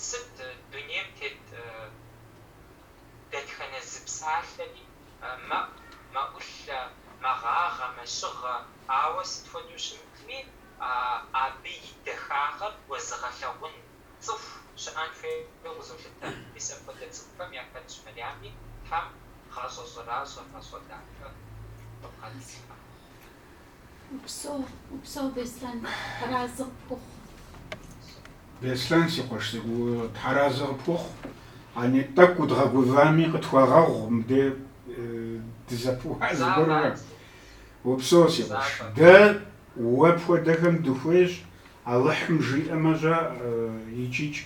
Сыт дунейм тет дэтхэнэ зы псалъэри мэӏу, мэӏулъэ, мэгъагъэ, мэщыгъэ, ауэ сыт хуэдэу щымытми, абы и дахагъэр уэзыгъэлъэгъун цӏыху щыӏэн хуейуэ къызолъытэ. Мис апхуэдэ цӏыхухэм яхэтщ Мэриями, Тхьэм гъащӏэ щӏэращӏэ, гъащӏэ дахэ къыбгъэдилъхьэ. Упсэу, упсэу, Беслъэн, тхьэразы къыпхухъу. Беслъэн, си къуэш цӏыкӏу, тхьэразы къыпхухъу. Ани, тӏэкӏу удгъэгувами, къытхуэгъэгъу мыде дызэпыуа зыгуэрурэ. Упсэу, си къуэш. Дэ уэ пхуэдэхэм дыхуейщ, Алыхьым жиӏэмэ, щӏэ, икӏ-икӏ.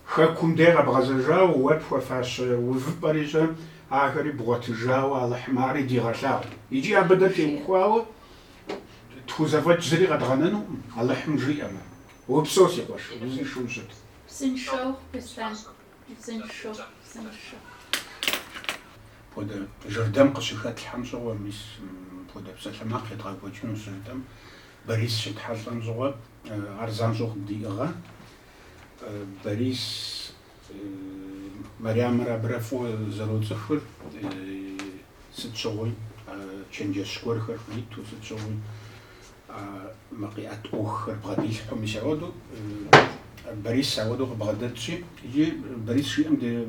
Хэкум де къэбгъэзэжауэ уэ пхуэфащэ увыпӏэри, щӏэ, ахэри бгъуэтыжауэ Алыхьым ари дигъэлъагъу. Икӏи абы дэ теухуауэ тхузэфӏэкӏ зыри къэдгъэнэнукъым, Алыхьым жиӏэмэ. Упсэу, си къуэш, узыншэу ущыт. Узыншэу, Беслъэн, узыншэу, узыншэу. Пхуэдэ жырдэм къыщыхэтлъхьэм щыгъуэ, мис мыпхуэдэ псалъэмакъ едгъэкӏуэкӏыну щыжытӏэм, Борис щетхьэлӏэм щыгъуэ, ар занщӏэу къыддиӏыгъа. Борис Мэриямрэ абырэ фӏыуэ зэроцӏыхури, сыт щыгъуи а чэнджэщ гуэрхэр хуриту, сыт щыгъуи а мы къиӏэт ӏуэхухэр бгъэдилъхьу. Мис ауэдэу Борис ауэдэу къыбгъэдэтщи, иджы Борис жиӏэм де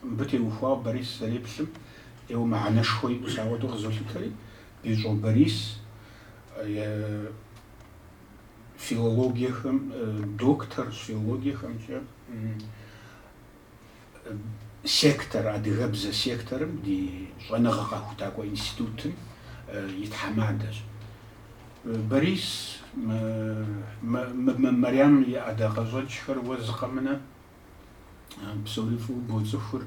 мыбы теухуауэ Борис зэреплъым ӏейуэ мыхьэнэшхуэ иӏэу мис ауэдэу къызолъытэри, Бищӏо Борис филологиехэм, доктор филологиехэмкӏэ сектор, адыгэбзэ секторым ди щӏэныгъэ къэхутакӏуэ институтым и тхьэмадэщ. Борис, мы Мэриам и ӏэдакъэщӏэкӏхэр уэ зы къэмынэу псори фӏыуэ боцӏыхур,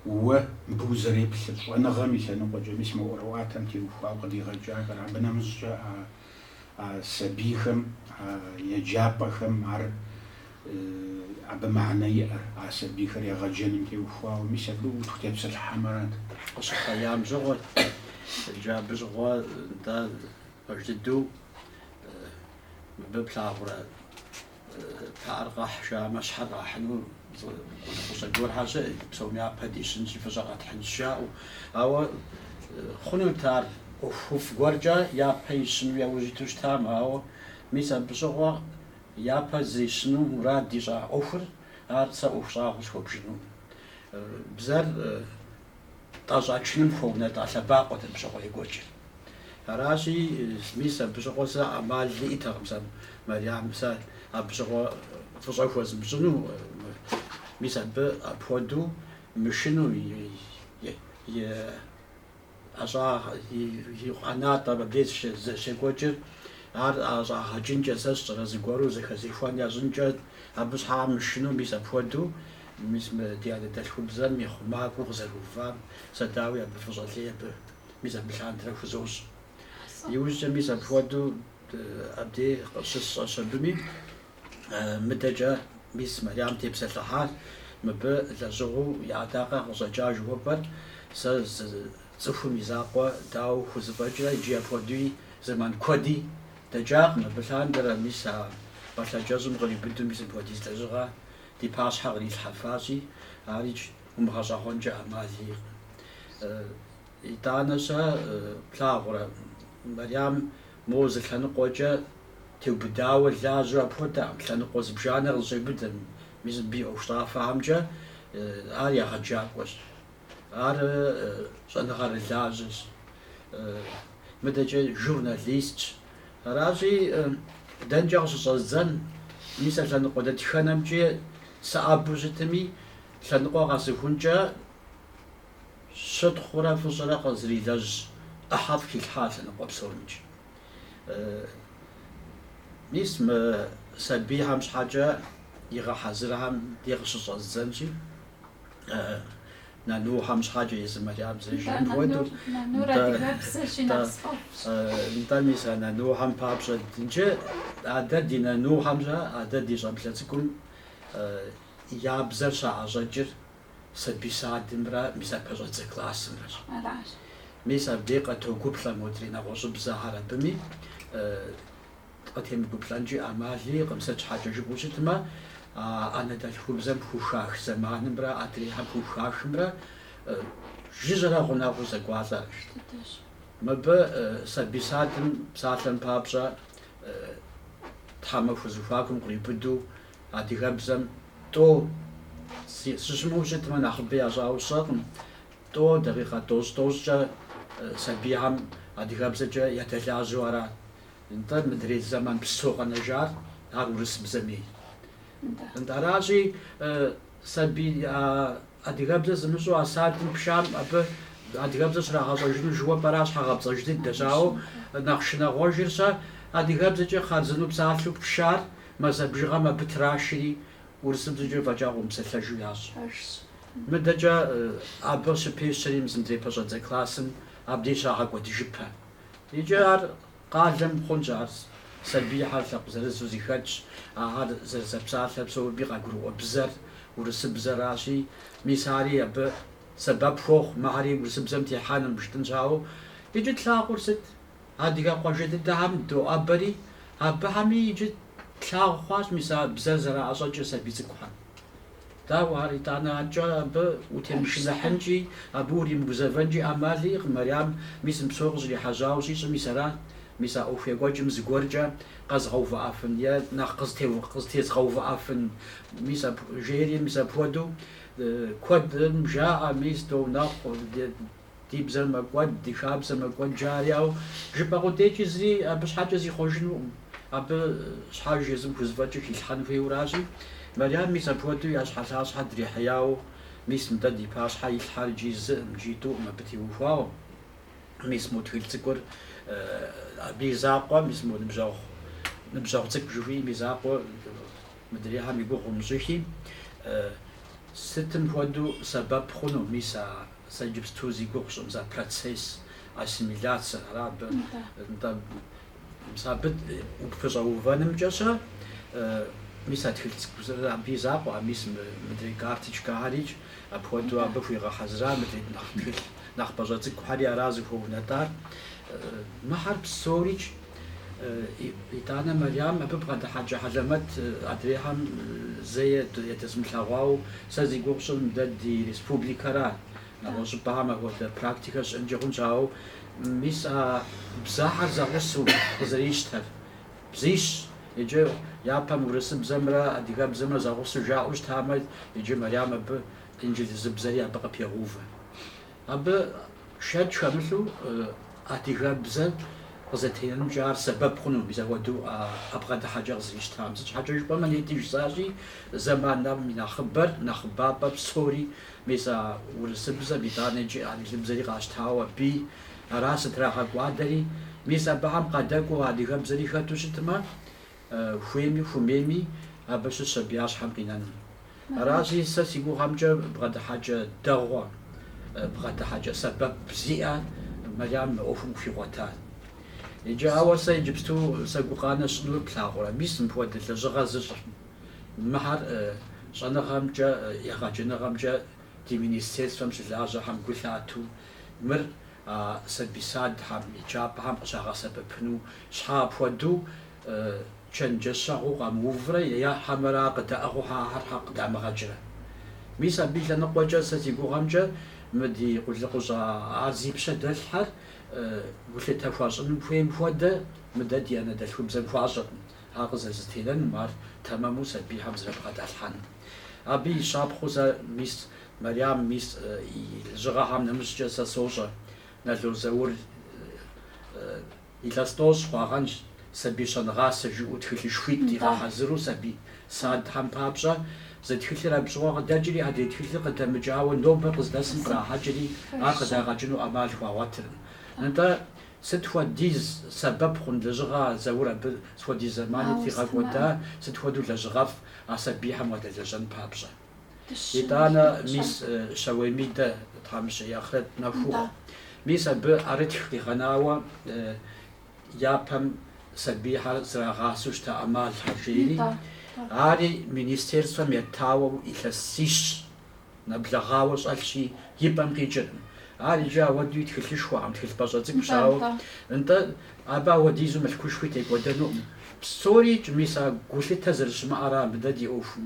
уэ мыбы узэреплъыр, щӏэныгъэм и лъэныкъуэкӏэ, мис мы ӏуэрыӏуатэм теухуауэ къыдигъэкӏахэр, абы нэмыщӏкӏэ а а сабийхэм, а еджапӏэхэм ар абы мыхьэнэ иӏэр, а сабийхэр егъэджэным теухуауэ, мис абы утхутепсэлъыхьамэ арат. Къыщыхъеям щыгъуэ, иджы абы щыгъуэ нтӏэ пэж дыдэу мыбы плъагъурэ? Пыӏэр къэхь жаӏэмэ, щхьэр къахьыну хущӏэкъухэр щыӏэ, псом япэ дищынщи, фӏыщӏэ къэтхьынщ жаӏэу. Ауэ хъунут ар ӏуэхуфӏ гуэркӏэ япэ ищыну яужь иту щытам, ауэ мис абы щыгъуэ япэ зэрищыну мурад ищӏа ӏуэхур ар сэ ӏуэху щӏагъуэу схуэбжыну. Бзэр тӏэщӏачыным хуэунэтӏа лъэбакъуэт абы щыгъуэ екӏуэкӏыр. Аращи, мис абы щыгъуэ сэ ӏэмал иӏэтэкъым сэ Мэриам, сэ абы щыгъуэ фӏыщӏэ хуэзмыщӏыну, мис абы апхуэдэу мышыну, и ӏэщӏагъ, и ӏэнатӏэ мыбдеж щекӏуэкӏыр, ар ӏэщӏагъэкӏынкӏэ, сэ сщӏэрэ зыгуэру зэхэзехуэн ящӏынкӏэ, абы щхьэкӏэ мышыну, мис апхуэдэу. Мис мы ди анэдэлъхубзэм и хъумакӏуэу къызэрыувам сэ дауи абы фӏыщӏэ лей абы, Мис абы лъандэрэ хузощӏ. Иужькӏэ мис апхуэдэу абдей къыщысщӏэщ абыми. Мыдэкӏэ мис Мэриям тепсэлъыхьар мыбы лэжьыгъэу и ӏэдакъэ къыщӏэкӏа жыхуэпӏэр сэ зы цӏыхум и закъуэ дауэ хузэфӏэкӏрэ иджы апхуэдуи зэман куэди дэкӏакъым абы лъандэрэ, мис а пӏалъэ кӏэщӏым къриубыдэу мис мыпхуэдиз лэжьыгъэ Ди пащхьэ кърилъхьэфащи, ар икӏ умыгъэщӏэгъуэнкӏэ ӏэмал иӏэкъым. Итӏанэ-щэ, плъагъурэ, Мэриям моуэ зы лъэныкъуэкӏэ теубыдауэ лажьэу апхуэдэкъым, лъэныкъуэ зыбжанэ къызэщӏеубыдэ, мис мыбы и ӏуэхущӏафэхэмкӏэ ар егъэджакӏуэщ. Ар щӏэныгъэрылажьэщ. Мыдэкӏэ журналистщ. Аращи, дэнкӏэ къыщыщӏэздзэн, мис а лъэныкъуэ дэтхэнэмкӏи сыӏэбэу щытми, лъэныкъуэ къэсыхункӏэ щытхъурэ фӏыщӏэрэ къызэрилэжь ӏыхьэфӏ хилъхьа а лъэныкъуэ псомкӏи. Мис мы сабийхэм щхьэкӏэ игъэхьэзырхэм де къыщыщӏэздзэнщи. Нанухьэм щхьэкӏэ езы Мэриям зэрыжиӏэм хуэдэу. Нанур адыгэбзэщи нэхъ сфӏэфӏщ. Нтӏэ, мис а Нанухьэм папщӏэ иджы адэ ди Нанухьэм щэ адэ ди щӏэблэ цӏыкӏум я бзэр щаӏэщӏэкӏыр сабий садымрэ мис ар пэщӏэдзэ классымрэщ. Аращ. Мис абдей къытогуплӏэ модрей нэгъуэщӏыбзэхэр абыми. Къытемыгуплӏэнкӏи ӏэмал иӏэкъым, сыт щхьэкӏэ жыпӏэу щытмэ, а анэдэлъхубзэм хухах зэманымрэ адрейхэм хухахымрэ жыжьэрэ гъунэгъуу зэкӏуалӏэрэ. Мыбы сабий садым псалъэм папщӏэ, тхьэмахуэ зэхуакум къриубыдэу адыгэбзэм тӏо сыщымыуэу щытмэ, нэхъыбэ ящӏауэ сщӏэкъым, тӏо, дакъикъэ тӏощӏ-тӏощӏкӏэ сабийхэм адыгэбзэкӏэ ядэлажьэу арат. Нтӏэ, мыдрей зэман псо къэнэжар ар урысыбзэм ей. Нтӏэ, аращи, сабий адыгэбзэ зымыщӏэу а садым пшам абы адыгэбзэ щрагъэщӏэжыну жыхуэпӏэр ар щхьэгъэпцӏэж дыдэщ, ауэ нэхъ шынагъуэжыр щэ адыгэбзэкӏэ хъарзыну псалъэу пшар мазэ бжыгъэм абы трашри урысыбзэкӏэ фӏэкӏа къыумыпсэлъэжу ящӏ. Мыдэкӏэ абы щыпещэри мис мыдрей пэщӏэдзэ классым абдей щагъэкӏуэдыжыпэ. Иджы ар къалэм хъунщ, ар сабийхэр лъэпкъ зырызу зыхэтщ, ахэр зэрызэпсалъэр псоми къагурыӏуэ бзэр урысыбзэращи, мис ари абы сэбэп хуохъу мыхьэри урысыбзэм техьэным, жытӏэнщ, ауэ иджы тлъагъур сыт? Адыгэ къуажэ дыдэхэм доӏэбэри, абыхэми иджы тлъагъу хъуащ мис а бзэр зэраӏэщӏэкӏыр сабий цӏыкӏухэм. Дауэ ар, итӏанэ, анкӏэ абы утемышыныхьынкӏи, абы уримыгузэвэнкӏи ӏэмал иӏэкъым, Мэриам, мис мы псор къыщӏрихьэжьауэ щӏищӏым мис арат, мис а ӏуэху екӏуэкӏым зыгуэркӏэ къэзгъэувыӏэфын е нэхъ къызтезгъэувыӏэфын, мис апху-, жери, мис апхуэдэу куэдым жаӏэ, мис, догъу, нэхъ-у, ди-, Ди бзэр мэкӏуэд, ди хабзэ мэкӏуэд, жаӏэри, ауэ жыпӏэ къудейкӏи зыри абы щхьэкӏэ зихъуэжынукъым. Абы щхьэж езым хузэфӏэкӏыр хилъхьэн хуейуэращи, Мэриям мис апхуэдэу ӏэщхьэлъащхьэр дрихьеяуэ, мис мыдэ ди пащхьэ илъхьэр иджы зыкъым, иджы тӏукъым абы теухуауэ, мис мо тхылъ цӏыкӏур абы и закъуэ, мис мо ныбжьэгъу, ныбжьэгъу цӏыкӏу жыхуиӏэм и закъуэ мыдрейхьэм и гугъу умыщӏыхи, сытым хуэдэу сэбэп хъуну мис а Сэ иджыпсту зи гугъу сщӏы мис а процесс ассимиляцэ ара абы нтӏэ? Мис абы упэщӏэувэнымкӏэ щэ, мис а тхылъ цӏыкӏу абы и закъуэ, а мис мыдрей карточкэхэрикӏ апхуэдэу абы хуигъэхьэзыра мыдрей нэхъ тхылъ нэхъ пӏащӏэ цӏыкӏухьэри ара зыхуэунэтӏар. Мыхьэр псорикӏ Итӏанэ Мэриям абы бгъэдыхьэкӏэ хьэлэмэт адрейхэм зэи ятезмылъэгъуауэ, сэ зи гугъу сщӏыр мыдэ ди республикэра, нэгъуэщӏыпӏэхэм апхуэдэ практикэ щыӏэнкӏи хъунщ, ауэ мис а бзэхьэр зэгъусэу къызэрищтэр бзищ, иджы япэм урысыбзэмрэ адыгэбзэмрэ зэгъусэу жаӏэу щытамэ, иджы Мэриям абы инджылызыбзэри абы къыпегъэувэ. Абы шэч хэмылъу адыгэбзэр къызэтенэнымкӏэ ар сэбэп хъуну мис апхуэдэу а бгъэдыхьэкӏэ къызэрищтам. Сыт щхьэкӏэ жыпӏэмэ, нетӏи жысӏащи, зэманым и нэхъыбэр, нэхъыбапӏэр псори мис а урысыбзэм, итӏанэкӏи инджылызыбзэри къащтауэ абы ара зытрагъэкӏуадэри. Мис абыхэм къадэкӏуэу адыгэбзэри хэту щытмэ, хуейми хумейми абы щыщ сабий я щхьэм къинэну. Аращи сэ си гугъэмкӏэ бгъэдыхьэкӏэ дэгъуэ, бгъэдыхьэкӏэ сэбэп зиӏэ Мэрям мы ӏуэхум хуигъуэтар. Иджы ауэ сэ иджыпсту сэ гукъанэ сщӏынур плъагъурэ, мис мыпхуэдэ лэжьыгъэ зыщӏхэм, мыхьэр щӏэныгъэмкӏэ, егъэджэныгъэмкӏэ ди министерствэм щылажьэхэм гу лъату Мыр а сабий-садхэм, еджапӏэхэм къыщагъэсэбэпыну щхьэ апхуэдэу чэнджэщэгъуу къамыуврэ е хьэмэрэ къыдаӏыгъыу ахэр щхьэ къыдамыгъэкӏрэ? Мис абы и лъэныкъуэкӏэ сэ си гугъэмкӏэ мы ди къулыкъущӏэ ар зи пщэ дэлъхьэр гулъытэ хуащӏыным хуейм хуэдэ мыдэ ди анэдэлъхубзэм хуащӏыркъым, ар къызэрызэтенэным, ар тэмэму сабийхэм зэрыбгъэдалъхьэным. Абы и щапхъэу сэ мис Мэриам, мис и лэжьыгъэхэм нэмыщӏкӏэ сэ сощӏэ, Нало Заур илъэс тӏощӏ хъуагъэнщ, сабий щӏэнгъасэ, жиӏэу тхылъышхуитӏ игъэхьэзыру сабий садхэм папщӏэ, зы тхылъыр абы щыгъуэ къыдэкӏри, адрей тхылъыр къыдэмыкӏауэ нобэ къыздэсым кърахьэкӏри, ар къыдагъэкӏыну ӏэмал хуагъуэтыркъым. Нтӏэ, сыт хуэдиз сэбэп хъун лэжьыгъэ а Заур абы сыт хуэдиз зэмани тригъэкӏуэда, сыт хуэдэу лэжьыгъэфӏ а сабийхэм уадэлэжьэн папщӏэ? Итӏанэ мис Щэуей Мидэ тхьэмыщкӏэ и ахърэт нэху ухъу. Мис абы ӏэрытх къигъэнауэ япэм сабийхэр зэрагъасэу щыта ӏэмалхэр, жери, ари министерствэм етауэ илъэсищ нэблэгъауэ щӏэлъщи, и пӏэм къикӏыркъым. Ар иджы ауэдэуи тхылъышхуэкъым, тхылъ пӏащӏэ цӏыкӏущ, ауэ нтӏэ абы ауэдизу мылъкушхуи текӏуэдэнукъым. Псорикӏ, мис а гулъытэ зэрыщымыӏэр ара мыдэ ди ӏуэхум,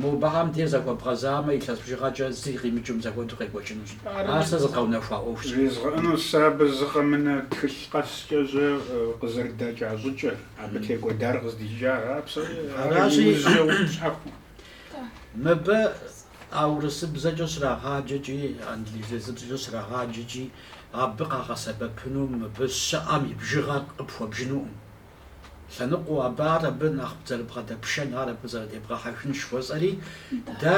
Мыбыхэм де зэхуэбгъэзамэ, илъэс бжыгъэкӏэ зыри къимыкӏым зэхуэдэу къекӏуэкӏынущ. Ар сэ зэдгъэунэхуа ӏуэхущ. Жезгъыӏэнур сэ абы зы къэмынэ тхылъ къэскӏэ жьэ къызэрыдэкӏа щӏыкӏэр, абы текӏуэдар къыздикӏа ара псори, ар иужькӏэ уи щхьэхуэ. Мыбы а урысыбзэкӏэ щрагъаджэкӏи, англизыбзэкӏэ щрагъаджэкӏи, абы къагъэсэбэпыну мыбы щыӏэм и бжыгъэр къыпхуэбжынукъым. Лъэныкъуэу абы ар абы нэхъ бзэр бгъэдэпшэн, ар абы зэрыдебгъэхьэхын жыхуэсӏэри, дэ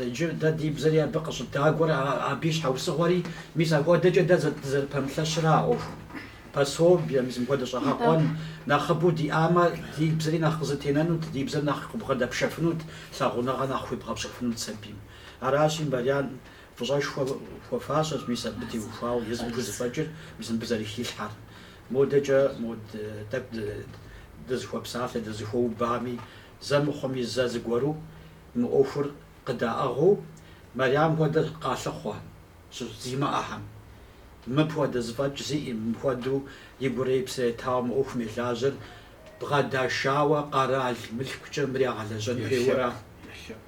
иджы дэ ди бзэри абы къыщӏыдагуэр, абы и щхьэусыгъуэри, мис апхуэдэкӏэ дэ дызэрыпэмылъэщыр а ӏуэхум, пособие, мис мыпхуэдэ щӏэгъэкъуэн нэхъыбэу диӏамэ, ди бзэри нэхъ къызэтенэнут, ди бзэр нэхъ къыбгъэдэпшэфынут, лъагъуныгъэ нэхъ хуебгъэпщӏыфынут сабийм. Аращи, Мэрям фӏыщӏэшхуэ хуэфащэщ, мис абы теухуауэ езым хузэфӏэкӏыр, мис мыбы зэрыхилъхьэр. Модэкӏэ мод тӏэкӏу дызэхуэпсалъэ, дызэхуэубами, зэ мыхъуми зэ зыгуэру мы ӏуэхур къыдаӏыгъыу, Мэрям хуэдэр къалъыхъуэ щыщ зимыӏэхэм. Мыпхуэдэ зэфӏэкӏ зиӏи, мыпхуэдэу и гурэ и псэрэ етауэ мы ӏуэхум елажьэр бгъэдашауэ къэрал мылъкукӏэ мыр ягъэлэжьэн хуейуэра?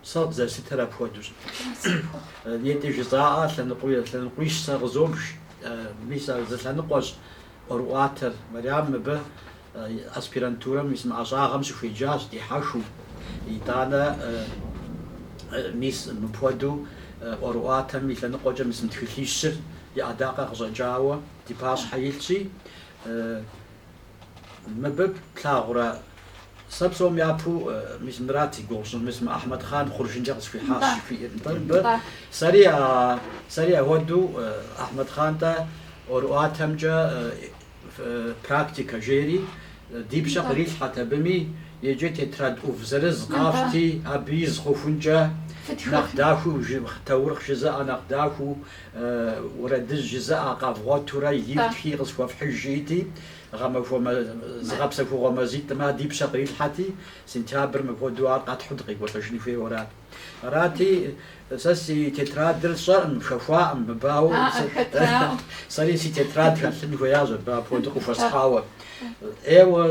Сэ къызэрыслъытэр апхуэдэущ. Нтӏэ жызоӏэ, лъэныкъуищ сэ къызобж, мис ар зы лъэныкъуэщ ӏуэрыӏуатэр. Мэрям мыбы аспирантурэм мис мы ӏэщӏагъэм щыхуеджащ дихьэхыу. Итӏанэ мис мыпхуэдэу ӏуэрыӏуатэм и лъэныкъуэкӏэ мис мы тхылъищыр и ӏэдакъэ къыщӏэкӏауэ ди пащхьэ илъщи, Мыбы плъагъурэ? Сэ псом япэу мис Мурат и гугъу сщӏын, мис мы Ахьмэдхъан хъуржынкӏэ къысхуихьащ жыхуиӏэ, нтӏэ, мыбы? Сэри а, сэри ахуэдэу, Ахьмэдхъан дэ ӏуэрыӏуатэмкӏэ практикэ жери, ди пщэ кърилъхьэт абыми, иджы тетрад ӏув зырыз къафщти, абы из хъухункӏэ, нэхъ дахэу, таурыхъ жызыӏэ нэхъ дахэу, Уэрэдыжь жызыӏэ къэвгъуэтурэ ифтхи къысхуэфхьыж жиӏти, гъэмахуэм зыгъэпсэхугъуэ мазитӏым ди пщэ кърилъхьэти, сентябрым апхуэдэу ар къэтхьу дыкъекӏуэлӏыжын хуейуэрат. Арати, сэ си тетрадыр сщӏэкъым, хэхуакъым мыбы, ауэ сэри си тетрад хэлъын хуеящ абы апхуэдэу къыхуэсхьауэ. Ӏейуэ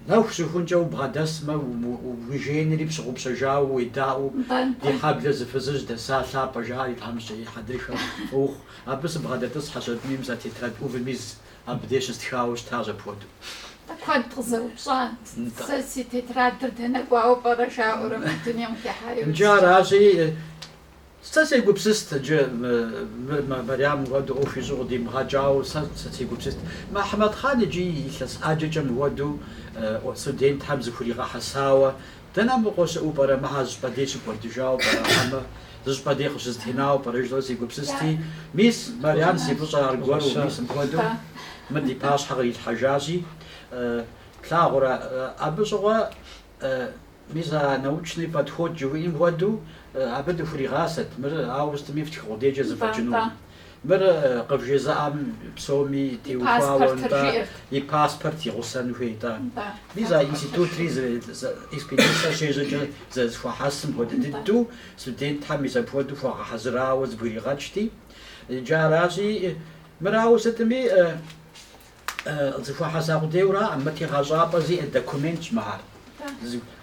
Нэху щыхункӏэ убгъэдэсмэ, уи жеинри пщыгъупщэжауэ, уедаӏуэу, ди хьэблэ зы фызыжь дэсащ, Лъапӏэ жаӏэри, тхьэмыщкӏэ, и хьэдрыхэ нэху. Абы сыбгъэдэтӏысхьэщ аби мис а тетрад ӏувым из абы деж щыстхауэ щытащ апхуэдэу. Куэд къызэупщӏат, сэ си тетрадыр дэнэ кӏуауэ пӏэрэ жаӏэурэ мы дунейм хихьэри удзыкӏэ. Нкӏэ аращи. Сэ сегупсыст иджы мыр Мэрямым хуэдэу ӏуэху ищӏу къыдимыгъэкӏауэ, сэ сегупсыст. Мэхьэмэт-хъан иджы илъэс ӏэджэкӏэ мыуэду студентхэм зэхуригъэхьэсауэ, дэнэ абы къосэӏуу пӏэрэ, мыхэр зыщӏыпӏэ дей щыкӏуэдыжауэ пӏэрэ хьэмэ, зыщӏыпӏэ дей къыщызэтенауэ пӏэрэ жысӏэу сегупсысти, мис, Мэрям и фӏыщӏэ аргуэру, мис мыпхуэдэу мыр ди пащхьэ кърилъхьэжащи, плъагъурэ, абы щыгъуэ. Мис а научный подход жыхуиӏэм хуэдэу абы дыхуригъасэт, мыр ауэ сытми фтхы къудейкӏэ зэфӏэкӏыну. Мыр къывжезыӏэм псоми теухуауэ нтӏэ, и паспорт и гъусэн хуейт. Мис а институтри зы экспедицэ щежьэкӏэ зэрызэхуахьэсым хуэдэ дыдэу студентхэм мис апхуэдэу хуэгъэхьэзырауэ зэбгригъэкӏти, иджы аращи, мыр ауэ сытми, Къызэхуахьэса къудейуэ аракъым, мы тегъэщӏапӏэ зиӏэ документщ мыхэр.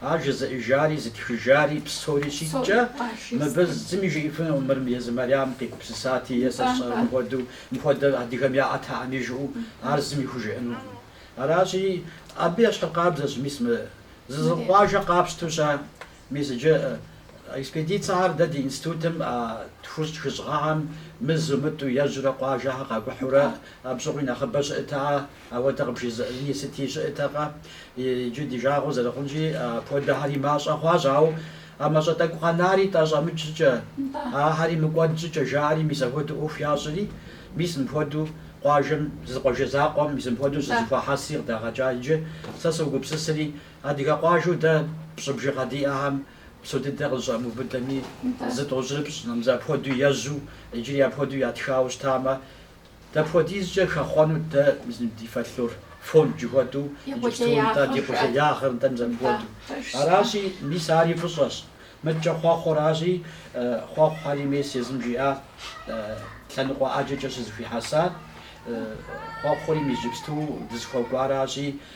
Ар жызыӏэжари, зытхыжари, псори щиткӏэ, мыбы зыми жиӏэфынукъым мыр езы Мэриам къигупсысати е сэ сщӏэрэ мыхуэдэу, мыхуэдэ адыгэм яӏэтэкъыми жыӏэу, ар зыми хужыӏэнукъым. Аращи, абы ещхьыркъабзэщ, мис мы зы зы къуажэ къапщтэу щыӏэ. Мис иджы экспедицэхэр дэ ди институтым а тхущӏ хыщӏ гъэхэм мызэ-мытӏэу ежьурэ къуажэхэр къакӏухьурэ абщыгъуи нэхъыбэ щыӏэт, ауэдэ къыбжезыӏэни сыти щыӏэтэкъэ. Иджы ди жагъуэ зэрыхъунщи, апхуэдэхэри мащӏэ хъуащ, ауэ а мащӏэ тӏэкӏу къэнари тӏэщӏэмыкӏ щӏыкӏэ, ахэри мыкӏуэд щӏыкӏэ жаӏэри мис апхуэдэу ӏуэху ящӏри, мис мыпхуэдэу къуажэм зы зы къуажэ закъуэм мис мыпхуэдэу щызэхуахьэсри къыдагъэкӏа иджы. Сэ согупсысри, Адыгэ къуажэу дэ пщӏы бжыгъэ диӏэхэм псо дыдэ къызыщӏамыубыдэми, зы тӏощӏрыпщӏ, нтӏэ мис апхуэдэу ежьу, иджыри апхуэдэу ятхауэ щытамэ, дапхуэдизкӏэ хэхъуэнут дэ ди фольклор фонд жыхуэтӏэу, иджыпсту нтӏэ ди къулеягъыр нтӏэ мис апхуэдэу. Аращи, мис ари фӏыщӏэщ. Мыдкӏэ хъуэхъуращи, хъуэхъухэри мис езым жиӏа лъэныкъуэ ӏэджэкӏэ щызэхуихьэса хъуэхъури иджыпсту дызыхуэкӏуаращи,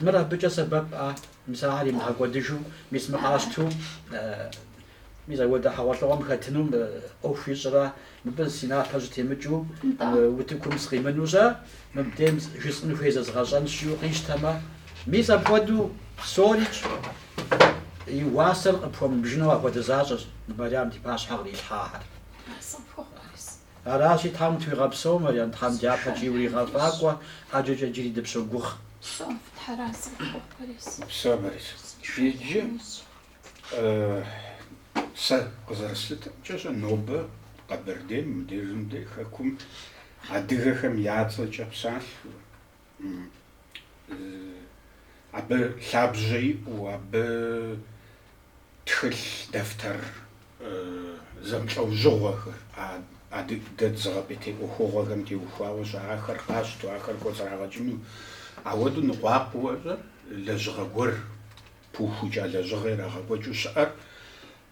Мыр абыкӏэ сэбэп-а? Мис ахэр имыгъэкӏуэдыжу, мис мы къащту, мис апхуэдэ хьэгъуэлӏыгъуэм хэтыну ӏуэху ищӏрэ? Мыбы си напэр щытемыкӏыу, утыкум сыкъимынэу щэ, мыбдейм жысӏэн хуей зэзгъэщӏэнщ, жиӏэу къищтэмэ? Мис апхуэдэу псорикӏ и уасэр къыпхуэмыбжыну апхуэдэ защӏэщ Мэрям ди пащхьэ кърилъхьахэр. Аращи, Тхьэм утхуигъэпсэу, Марьям, Тхьэм дяпэкӏи уригъэфӏакӏуэ, ӏэджэкӏэ джыри дыпщогугъ. Упсэу, Борис. Иджы сэ къызэрыслъытэмкӏэ щэ, нобэ Къэбэрдейм, мыбдежым дей Хэкум адыгэхэм я цӏэкӏэ псалъэу, абы лъабжьэ иӏэу, абы тхылъ дэфтэр зэмылӏэужьыгъуэхэр, адыгэ дызыгъэпӏейтей ӏуэхугъуэхэм теухуауэ щыӏахэр къащту, ахэр кӏуэцӏрагъэкӏыну ауэдэу ныкъуакъуэкӏэ лэжьыгъэ гуэр пыухыкӏа лэжьыгъэ ирагъэкӏуэкӏыу щыӏэр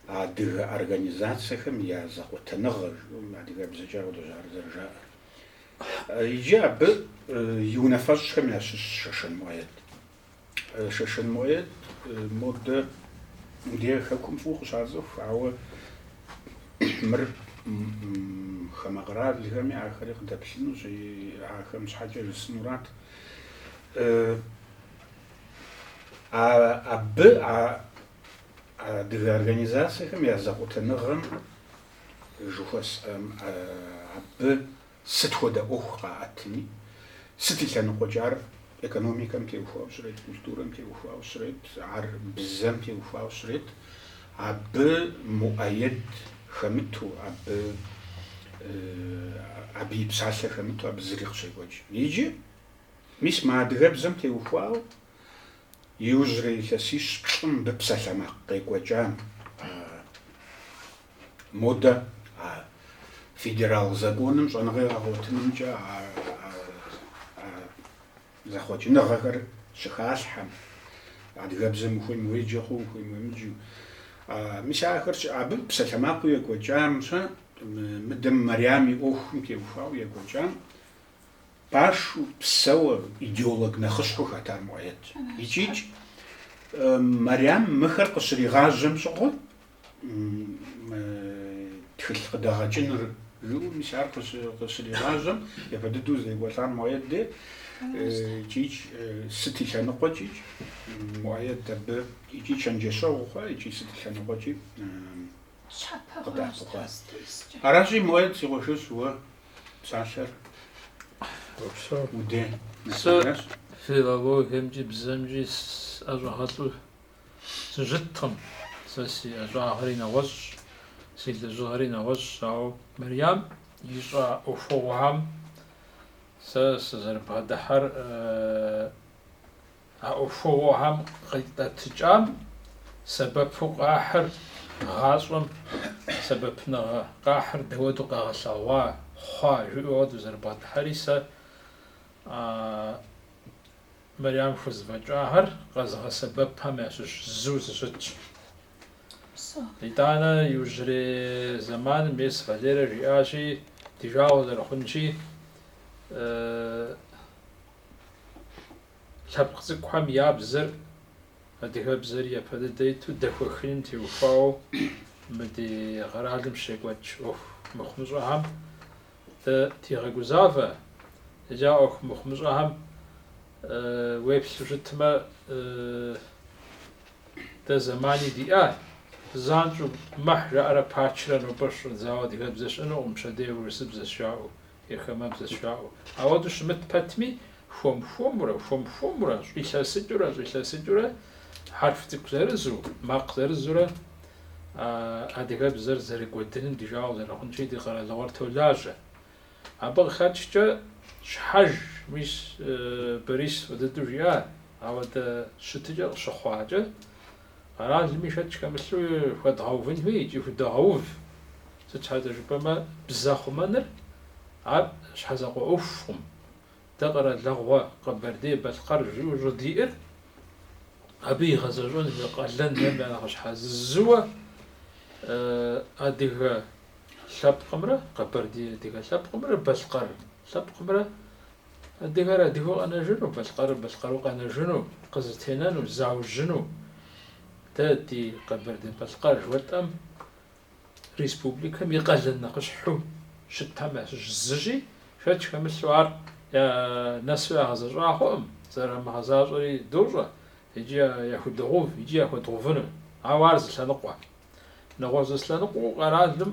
адыгэ организацэхэм я зэкъуэтыныгъэ, жыӏэу адыгэбзэкӏэ ар къыдожьагъэр зэрыжаӏэр. Иджы абы и унафэщӏхэм ящыщщ Шэшэн Муӏэед. Шэшэн Муӏэед, модэ мы ди хэкум фӏыуэ къыщацӏыху, ауэ мыр хамэ къэралхэми ахэри къыдэплъынущи, ахэм щхьэкӏэ жысӏэнурат. Абы а адыгэ организацэхэм я зэкъуэтыныгъэм жыхуэсӏэм, абы Сыт хуэдэ ӏуэху къаӏэтми, сыт и лъэныкъуэкӏэ, ар экономикэм теухуауэ щрет, культурэм теухуауэ щрет, ар бзэм теухуауэ щрет, абы Муӏэед хэмыту, абы абы и псалъэ хэмыту абы зыри къыщекӏуэкӏ. Иджы, мис мы адыгэбзэм теухуауэ иужьрей илъэсищ-плӏым мыбы псалъэмакъ къекӏуэкӏам. Модэ а федерал законым щӏэныгъэ егъэгъуэтынымкӏэ а зэхъуэкӏыныгъэхэр щыхалъхьэм, адыгэбзэм ухуейм уеджэ хъу, ухуейм уемыджу. Мис ахэр абы псалъэмакъыу екӏуэкӏам щэ, мыдэм Мариам и ӏуэхум теухуауэ екӏуэкӏам пашу псэуэ идеолог нэхъыщхьэу хэтар Муӏэед. Икӏикӏ Мариам мыхэр къыщригъажьэм щыгъуэ, Мы тхылъ къыдэгъэкӏыныр жыӏэу мис ар къыщригъажьэм, япэ дыдэу зрекӏуэлӏар Муӏэед деж, икӏи сыт и лъэныкъуэкӏи Муӏэед абы икӏи чэнджэщэгъу хъуа икӏи сыт и лъэныкъуэкӏи къыдэӏэпыкъуа. Аращи, Муӏэед, си къуэшыщ, уэ псалъэр уи деж нэсыжащ. Филологиемкӏи бзэмкӏи ӏэщӏагъэлӏу сыщыткъым. Сэ си ӏэщӏагъэри нэгъуэщӏщ, си лэжьыгъэри нэгъуэщӏщ, ауэ Мэриям ищӏа ӏуэхугъуэхэм сэ сызэрыбгъэдыхьэр а ӏуэхугъуэхэм къитӏэтыкӏам сэбэпу къахьыр гъащӏэм сэбэпыныгъэ къахьыр дауэдэу къэгъэлъэгъуа хъуа жыӏэуэ дызэрыбгъэдыхьэри сэ Мэрям хузэфӏэкӏахэр къэзыгъэсэбэпхэм ящыщ зыу сыщытщ. Итӏанэ иужьрей зэманым ес Валерэ жиӏащи, ди жагъуэ зэрыхъунщи, лъэпкъ цӏыкӏухэм я бзэр, адыгэбзэри япэ дыдэ иту, дэхуэхыным теухуауэ мы ди къэралым щекӏуэкӏ ӏуэху мыхъумыщӏэхэм Дытегъэгузавэ, иджы а ӏуэху мыхъумыщӏэхэм уеплъу щытмэ, дэ зэмани диӏа, занщӏэу мэхь жаӏэрэ пачрэ нобэ щӏыдзауэ адыгэбзэ щыӏэнукъым, пщэдей урысыбзэщ жаӏэу, е хамэбзэщ жаӏэу. Ауэдэу щымыт пэтми, хуэм-хуэмурэ, хуэм-хуэмурэ, щӏилъэсыкӏыурэ, щӏилъэсыкӏыурэ, хьэрф цӏыкӏу зырызу, макъ зырызурэ, адыгэбзэр зэрыкӏуэдыным ди жагъуэ зэрыхъунщи ди къэралыгъуэр толажьэ. Абы къыхэкӏкӏэ щхьэж, мис Борис фӏы дыдэу жиӏа, ауэдэ щытыкӏэ къыщыхъуакӏэ, къэралми шэч хэмылъу хуэдгъэувын хуей икӏи худогъэув. Сыт щхьэкӏэ жыпӏэмэ, бзэ хъумэныр ар щхьэзакъуэ ӏуэхукъым. Дэ къэралыгъуэ Къэбэрдей-Балъкъэр жиӏэу щӏыдиӏэр, абы игъэзэщӏэн къалэнхэм я нэхъыщхьэ зы зыуэ адыгэ лъэпкъымрэ, къэбэрдей-адыгэ лъэпкъымрэ, балъкъэр лъэпкъымрэ, адыгэр адыгэу къэнэжыну, балъкъэрыр балъкъэру къэнэжыну, къызэтенэну, заужьыну, дэ ди Къэбэрдей-Балъкъэр жыхуэтӏэм республикэм и къалэн нэхъыщхьэу щытхэм ящыщ зыщи, шэч хэмылъу ар нэсу ягъэзэщӏа хъуӏым, зэрамыгъэзащӏэри дощӏэ икӏи яхудогъэув икӏи яхуэдгъэувыну. Ауэ ар зы лъэныкъуэ. Нэгъуэщӏ зы лъэныкъуэу къэралым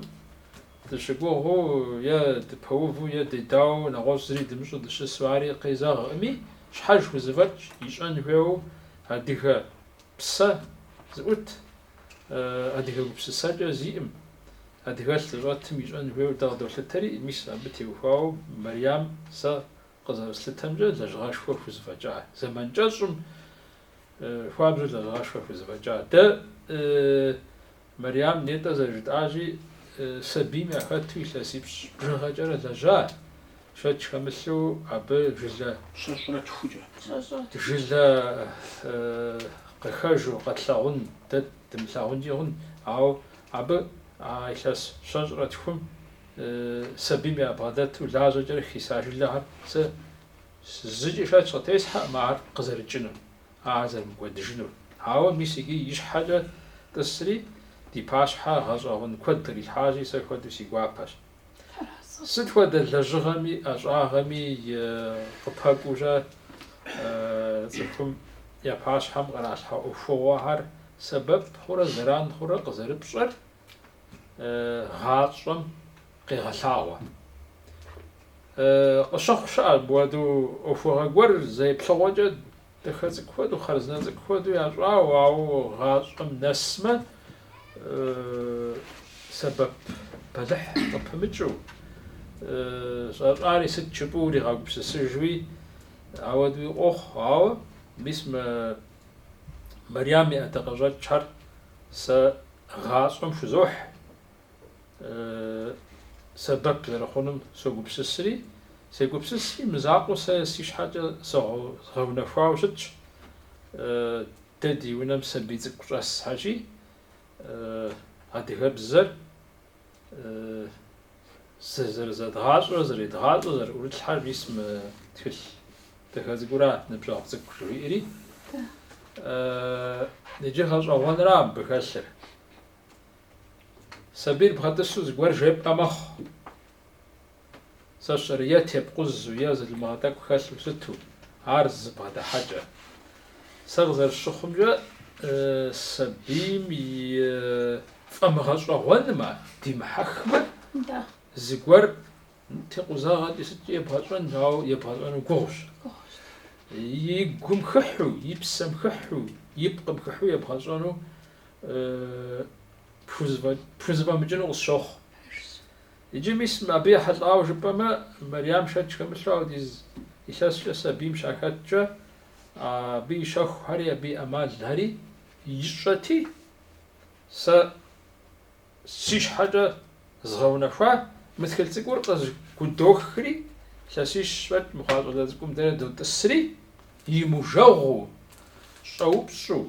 дыщыгугъыу е дыпэуву е дедауэ нэгъуэщӏ зыри дымыщӏу дыщысу ари къезэгъкъыми, щхьэж хузэфӏэкӏ ищӏэн хуейуэ адыгэ псэ зыӏут. адыгэ гупсысэкӏэ зиӏым, адыгэлъ зыщӏэтым ищӏэн хуейуэ дэ къыдолъытэри, мис абы теухуауэ Мэриям сэ къызэрыслъытэмкӏэ лэжьыгъэшхуэ хузэфӏэкӏа, зэман кӏэщӏым хуабжьу лэжьыгъэшхуэ хузэфӏэкӏа. Дэ Мэриям нетӏэ зэрыжытӏащи, сабийм яхэту илъэсипщӏ бжыгъэкӏэрэ лэжьа, Шэч хэмылъу абы жылэ. Щэщӏрэ тхукӏэ. Щэщӏрэ тхукӏэ. Жылэ къыхэжу къэтлъагъун, дэ дымылъагъункӏи хъун, ауэ абы а илъэс щэщӏрэ тхум сабийм ябгъэдэту лажьэкӏэрэ хиса жылэхэр сэ зыкӏи шэч къытесхьэӏым ар къызэрыкӏынур, ар зэрымыкӏуэдыжынур. Ауэ мис иджы и щхьэкӏэ тӏысри, ди пащхьэ гъэщӏэгъуэн куэд кърилъхьащи, сэ хуэдэу си гуапэщ. Сыт хуэдэ лэжьыгъэми, ӏэщӏагъэми къыпэкӏуурэ цӏыхум я пащхьэм къыралъхьэ ӏуэхугъуэхэр сэбэп хъурэ зэран хъурэ къызэрыпщӏэр гъащӏэм къегъэлъагъуэ. Къыщыхъу щыӏэ мыпхуэдэу ӏуэхугъуэ гуэр зэеплъыгъуэкӏэ Дахэ цӏыкӏу хуэдэу, хъарзынэ цӏыкӏу хуэдэу ящӏауэ, ауэ гъащӏэм нэсмэ, сэбэп бэлыхь къыпымыкӏыу, щӏащӏари сыт жыпӏу уригъэгупсысыжуи, ауэдэуи къохъу. Ауэ мис мы Мэриям и ӏэдакъэщӏэкӏхэр сэ гъащӏэм хузохь, сэбэп зэрыхъунум согупсысри, сегупсысри, мызакъуэу сэ си щхьэкӏэ згъэунэхуауэ щытщ. Дэ ди унэм сабий цӏыкӏу щӏэс хьэщи, адыгэбзэр зэрызэдгъащӏэу, зэредгъащӏэу, зэрыӏурылъхьэр мис мы тхылъ дахэ цӏыкӏура, ныбжьэгъу цӏыкӏу жиӏэри. Иджы гъэщӏэгъуэнра мыбы хэлъыр. Сабийр бгъэтӏысу зыгуэр жепӏэ мэхъу. Сэ сщӏэрэ е тепкъузу, е залымыгъэ тӏэкӏу хэлъу сыту, ар зыбгъэдыхьэкӏэ. Сэ къызэрысщыхъумкӏэ, сабийм и фӏэмыгъэщӏэгъуэнмэ димыхьэхмэ, зыгуэр Текъузагъэкӏи сыткӏи ебгъэщӏэн, ауэ ебгъэщӏэну гугъущ. И гум хыхьу, и псэм хыхьу, и пкъым хыхьу ебгъэщӏэну пхузэфӏэмыкӏыну къысщохъу. Иджы мис абы ехьэлӏауэ жыпӏэмэ, Мэриям шэч хэмылъу ауэдиз илъэскӏэ сабийм щахэткӏэ, абы и щэхухэри, абы и ӏэмалхэри ищӏэти, сэ Си щхьэкӏэ згъэунэхуа мы тхылъ цӏыкӏур къызыкъудохри, лъэсищ фӏэкӏ мыхъуа щӏалэ цӏыкӏум дэрэ дотӏысри, имыжагъуэу, щӏэупщӏу,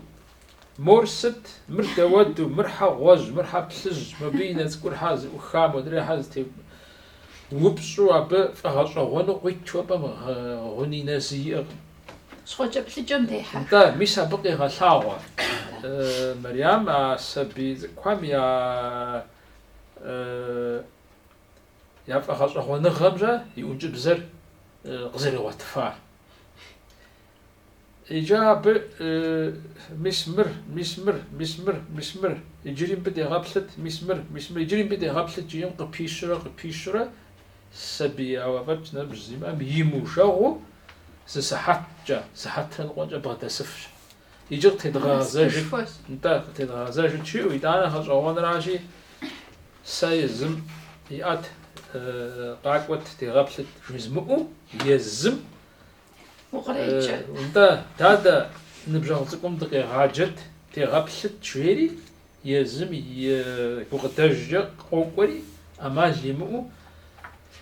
Мор сыт? Мыр дауэду, мыр хьэ гъуэжь, мыр хьэ плъыжь, мыбы и нэ цӏыкӏур хьэ зыӏухха модрей хьэ зытепӏа упщӏэу абы фӏэгъэщӏэгъуэну къуитхэм гъуни нэзи иӏэкъым. щхъуэкӏэплъыкӏэм дехьэх. Нтӏэ, мис абы къегъэлъагъуэ. Мэриам а сабий цӏыкӏухэм я фӏэгъэщӏэгъуэныгъэмкӏэ и ӏункӏыбзэр къызэригъуэтыфа. Иджы абы мис мыр, мис мыр, мис мыр, мис мыр, иджыри мыбы дегъэплъыт, мис мыр, мис мыр, иджыри мыбы дегъэплъыт жиӏэм къыпищурэ, къыпищурэ, Сабий ауэ фӏэкӏ ныбжь зимыӏэм имужэгъуу зы сыхьэткӏэ, сыхьэтрэ ныкъуэкӏэ бгъэдэсыфщ. Иджы къытедгъэгъэзэжыр, нтӏэ, къытедгъэгъэзэжыр чыу итӏанэ гъэщӏэгъуэнращи, сэ езым иӏэт, къакӏуэт, дегъэплъыт жызмыӏэу, езым Укъреджэ. Нтӏэ, дадэ, ныбжьэгъу цӏыкӏум дыкъегъаджэт, дегъэплъыт, жери, езым и гукъыдэжкӏэ къокӏуэри, ӏэмал имыӏэу,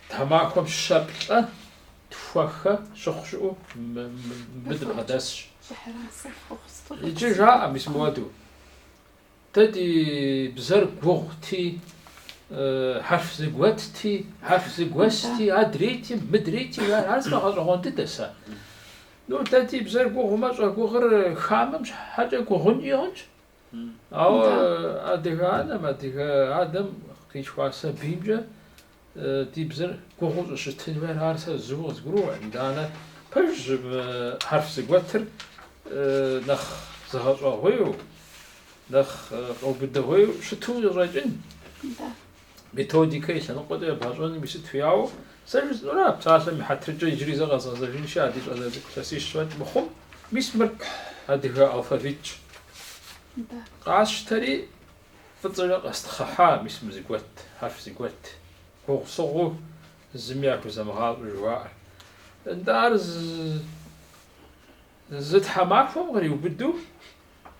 тхьэмахуэм щэ, плӏэ, тхуэхэ щыхъу щыӏэу мыбы дыбгъэдэсщ. Иджы жаӏэ, мис мыуэду. Дэ ди бзэр гугъути, хьэрф зэгуэтти, хьэрф зэгуэсти, адрейти, мыдрейти, ар сэ гъэщӏэгъуэн дыдэ сэ. Ну, дэ ди бзэр гугъумэ, щӏэгугъур хамэм щхьэкӏэ гугъункӏи хъунщ. Ауэ адыгэ анэм, адыгэ адэм къилъхуа сабиймкӏэ Ди бзэр гугъуу щӏыщытын хуейр ар сэ зыуи къызгурыӏуэкъым. Итӏанэ пэжщ хьэрф зэгуэтыр нэхъ зэгъэщӏэгъуейуэ, нэхъ къэубыдэгъуейуэ щыту къыщӏэкӏын. Методикэ и лъэныкъуэкӏэ ебгъэщӏэным и сыт хуеяуэ. Сэ жысӏэнура, псалъэм и хьэтыркӏэ иджыри зэ къэзгъэзэжынши а ди щӏалэ цӏыкӏу илъэсищ фӏэкӏ мыхъум, мис мыр адыгэ алфавитщ. Къасщтэри, Фӏыцӏэкӏэ къэстхъыхьа мис мы зэгуэт, хьэрф зэгуэт гугъусыгъуу зыми яхузэмыгъащӏэ жыхуаӏэр. Нтӏэ, ар зы тхьэмахуэм къриубыду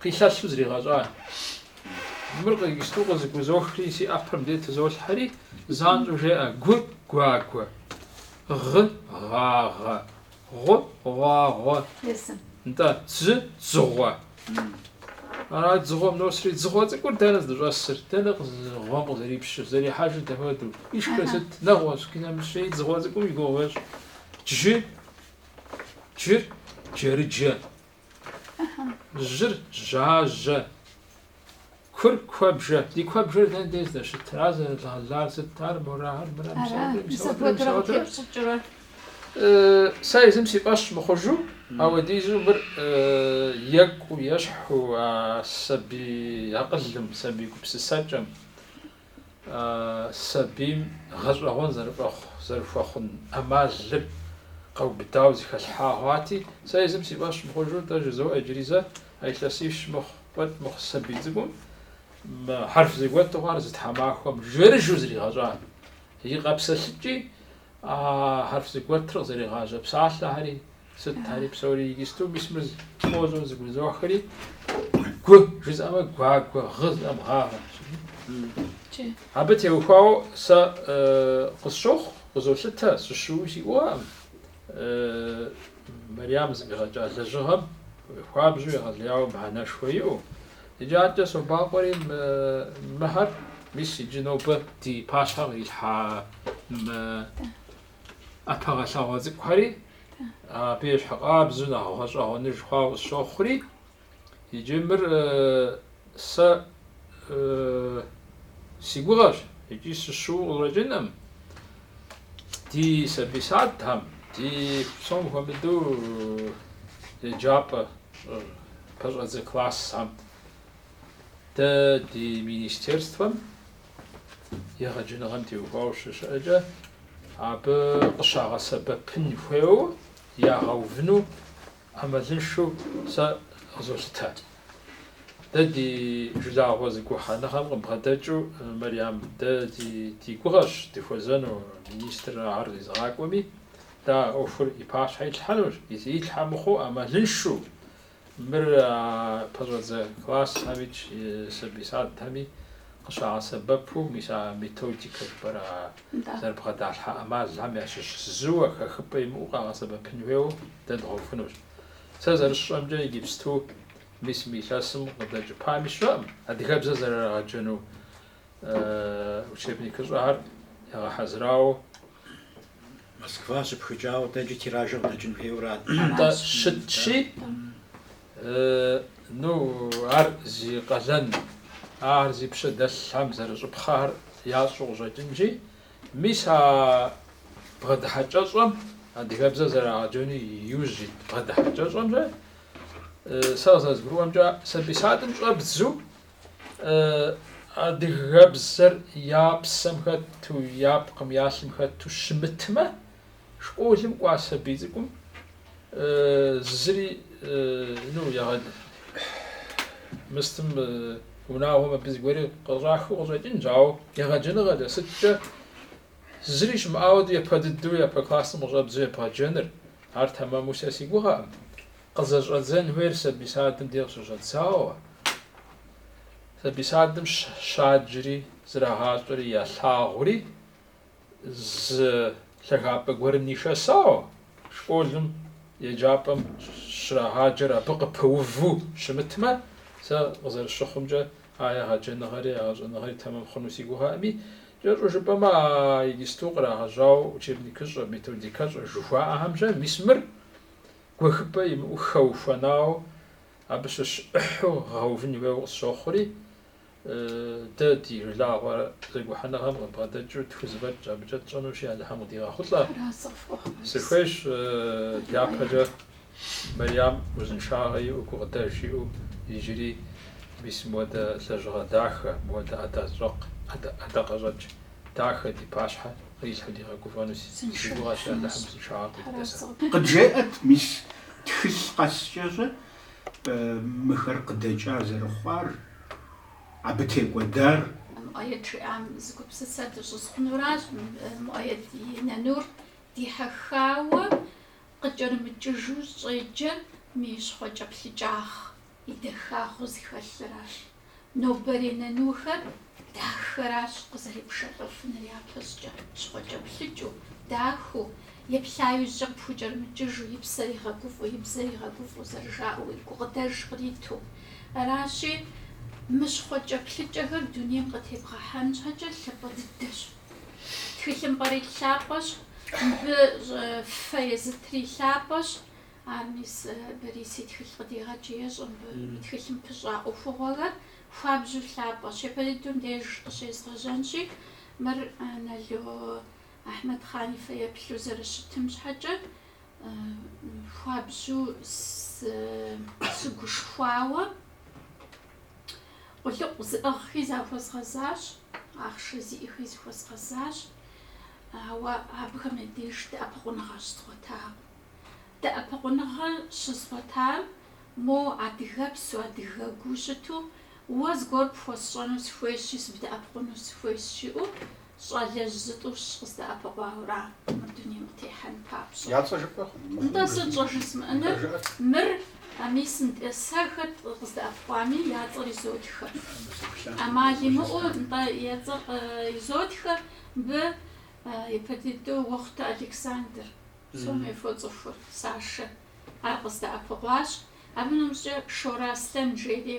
къилъэлъу зригъэщӏа. Мыр къикӏысту къызэгузохри, си ӏэпэр мыдэ тызолъхьэри, занщӏэу жеӏэ, Гу, гуагуэ. Гъы, гъагъэ. Гъу, гъуагъуэ. Езым. Нтӏэ, дзы, дзыгъуэ. Ара дзыгъуэм носри, дзыгъуэ цӏыкӏур дэнэ здыщӏэсыр, дэнэ гъуэм къызэрипщыр, зэрихьэжыр дапхуэдэу. Ишхыр сыт, нэгъуэщӏ къинэмыщӏи, дзыгъуэ цӏыкӏум и гугъу ещӏ. Джы, джыр, джэрыджэ. Жьыр жьажьэ, кур куэбжэ. Ди куэбжэр дэнэ дей здэщытыр? Ар зэрыдгъэлар сыт? Ар морагъэр, мыра, мисауэдрэ, мисауэдрэ, мисауэдрэ? Сэ езым си фӏэщ мыхъужу, ауэдизу мыр екӏуу, ещхьу а сабий акъылым, сабий гупсысэкӏэм. сабийм гъэщӏэгъуэн зэрыхуэхъун ӏэмалыр къэубыдауэ зэхэлъхьа хъуати, сэ езым си фӏэщ мыхъужу тӏэ жызоӏэ иджыри зэ, а илъэсищ мыхъу, фӏэкӏ мыхъу сабий цӏыкӏум хьэрф зэгуэту ар зы тхьэмахуэм жэрыжэу зригъэщӏа и къэпсэлъыкӏи, а хьэрф зэгуэтыр къызэригъажьэ псалъэхэри, Сыт ари псори иджысту мис мы тхъуэжьу зыгузохри, гу жызӏэмэ гуагуэ, гъы зыӏэм гъагъэ. Абы теухуауэ сэ къысщохъу, къызолъытэ, сыщыуэуи си гугъэкъым. Мэриям зэфӏигъэкӏа лэжьыгъэм хуабжьу егъэлеяуэ мыхьэнэшхуэ иӏэу. Иджы адэкӏэ собакъуэри мыхэр, мис иджы нобэ ди пащхьэм кърилъхьа ӏэпэгъэлъагъуэ цӏыкӏухэри абы ещхьыкъабзэу нэхъ гъэщӏэгъуэныж хъуауэ къысщохъури, иджы мыр сэ си гугъэщ икӏи сыщыуэу къыщӏэкӏынкъым. Ди сабий садхэм, ди псом хуэмыдэу еджапӏэ пэщӏэдзэ классхэм дэ ди министерствэм егъэджэныгъэм теухуауэ щыщыӏэкӏэ, абы къыщагъэсэбэпын хуейуэ ягъэувыну ӏэмалыншэу сэ къызолъытэ. Дэ ди жылагъуэ зэгухьэныгъэм къыбгъэдэкӏыу, Мэриям, дэ ди гугъэщ дыхуэзэну министр ахэр зезыгъакӏуэми, дэ а ӏуэхур и пащхьэ итлъхьэнущ, итлъхьэ мыхъуу ӏэмалыншэу Мыр а пэщӏэдзэ классхэми сабий садхэми къыщагъэсэбэпу мис а методикэ жыпӏэр а зэрыбгъэдалъхьэ ӏэмалхэм ящыщ зыуэ хэхыпӏэ имыӏэу къагъэсэбэпын хуейуэ дэ дгъэувынущ. Сэ зэрысщӏэмкӏэ иджыпсту мис мы илъэсым къыдэкӏыпами сщӏэкъым, адыгэбзэ зэрырагъэджэну учебникыщӏэхэр ягъэхьэзырауэ. Москва щыпхыкӏауэ адэкӏэ тиражыр къыдэкӏын хуейуэ ара? Нтӏэ, щытщи, ну, ар зи къалэн, ар зи пщэ дэлъхэм зэрыщӏыпхъэхэр ящӏу къыщӏэкӏынщи, мис а бгъэдыхьэкӏэщӏэм, адыгэбзэр зэрагъэджэну иужь ит бгъэдыхьэкӏэщӏэмкӏэ, сэ къызэрызгурыӏуэмкӏэ, сабий садым щӏэбдзэу, адыгэбзэр я псэм хэту, я пкъым, я лъым хэту щымытмэ, школым кӏуа сабий цӏыкӏум зыри ну, мыстым унагъуэм абы зыгуэри къыщӏахыу къыщӏэкӏынщ, ауэ егъэджэныгъэкӏэ сыткӏэ зыри щымыӏауэ япэ дыдэу япэ классым къыщӏэбдзэу ебгъэджэныр, ар тэмэму сэ си гугъэкъым. Къызэщӏэдзэн хуейр сабий садым де къыщыщӏэдзауэ, сабий садым щаджри зрагъащӏэри ялъагъури, зы лъагапӏэ гуэрым нишэсауэ, школым, еджапӏэм щрагъаджэр абы къыпыуву щымытмэ, сэ къызэрысщыхъумкӏэ а егъэджэныгъэри, егъэщӏэныгъэри тэмэм хъуну си гугъэӏыми, кӏэщӏу жыпӏэмэ, а иджыпсту кърагъэжьауэ учебникыщӏэ, методикэщӏэ жыхуаӏэхэмкӏэ мис мыр гуэхыпӏэ имыӏэу хэухуэнауэ абы щыщ ӏыхьу гъэувын хуейуэ къысщохъури, дэ ди жылагъуэ зэгухьэныгъэм къыбгъэдэкӏыу тхузэфӏэкӏ абыкӏэ тщӏэнущи, Алыхьым къыдигъэхъулӏэ. Сыхуейщ дяпэкӏэ Мэриям узыншагъэ иӏэу, гукъыдэж иӏэу, иджыри мис мыуэдэ лэжьыгъэ дахэ, мыуэдэ ӏэдащӏэкъ, ӏэдакъэщӏэкӏ дахэ ди пащхьэ кърилъхьэу дигъэгуфӏэну си гугъэщ, Алыхьым узыншагъэ къыдит. Къыджеӏэт, мис, тхылъ къэскӏэ щэ мыхэр къыдэкӏа зэрыхъуар, абы текӏуэдар. Муӏэед жиӏам зы гупсысэ дыщӏызгъунуращ, Муӏэед и нанур дихьэххауэ къыкӏэрымыкӏыжу щӏеджэр мы и щхъуэкӏэплъыкӏагъ, и дахагъэу зыхэлъыращ. Нобэрей нанухэр дахэращ къызэрепшэлӏэфыныр япэщӏыкӏэ, щхъуэкӏэплъыкӏыу, дахэу, еплъа иужькӏэ къыпхукӏэрымыкӏыжу, и псэр игъэгуфӏу, и бзэр игъэгуфӏу зэрыжаӏэу, и гукъыдэж къриту. Аращи, мы щхъуэкӏэплъыкӏэхэр дунейм къытебгъэхьэн щхьэкӏэ лъапӏэ дыдэщ. Тхылъымпӏэри лъапӏэщ, мыбы фэ езытри лъапӏэщ. Ар мис Борис и тхылъ къыдегъэкӏри ещӏэ мыбы. И тхылъым пыщӏа ӏуэхугъуэхэр хуабжьу лъапӏэщ. Япэ дыдэу деж къыщезгъэжьэнщи, мыр Нало Ахьмэдхъан и фэеплъу зэрыщытым щхьэкӏэ, хуабжьу сыгушхуауэ къулыкъу зыӏыгъхи захуэзгъэзащ, ахъшэ зиӏэхи зыхуэзгъэзащ, ауэ абыхэм я деж дэӏэпыкъуныгъэ щызгъуэтакъым. Дэӏэпыкъуныгъэ щызгъуэтар, мо адыгэпсу, адыгэгуу щыту, уэ зыгуэр пхуэсщӏэну сыхуейщи, сыбдэӏэпыкъуну сыхуейщ, жиӏэу щӏалэжь зытӏущ къыздэӏэпыкъуауэра мыр дунейм къытехьэн папщӏэ. Я цӏэ жыпӏэ хъун? Нтӏэ, сыт щӏыжызмыӏэныр? Мыр, мис, нтӏэ, сэ хэт къыздэӏэпыкъуами, я цӏэр изотхэ. ӏэмал имыӏэу, нтӏэ, я цӏэр изотхэ, мыбы япэ иту Уэхъутэ Александр. Псоми фоцӏыхур, Сашэ. Ар къыздэӏэпыкъуащ. Абы нэмыщӏкӏэ Шорэ Аслъэн жери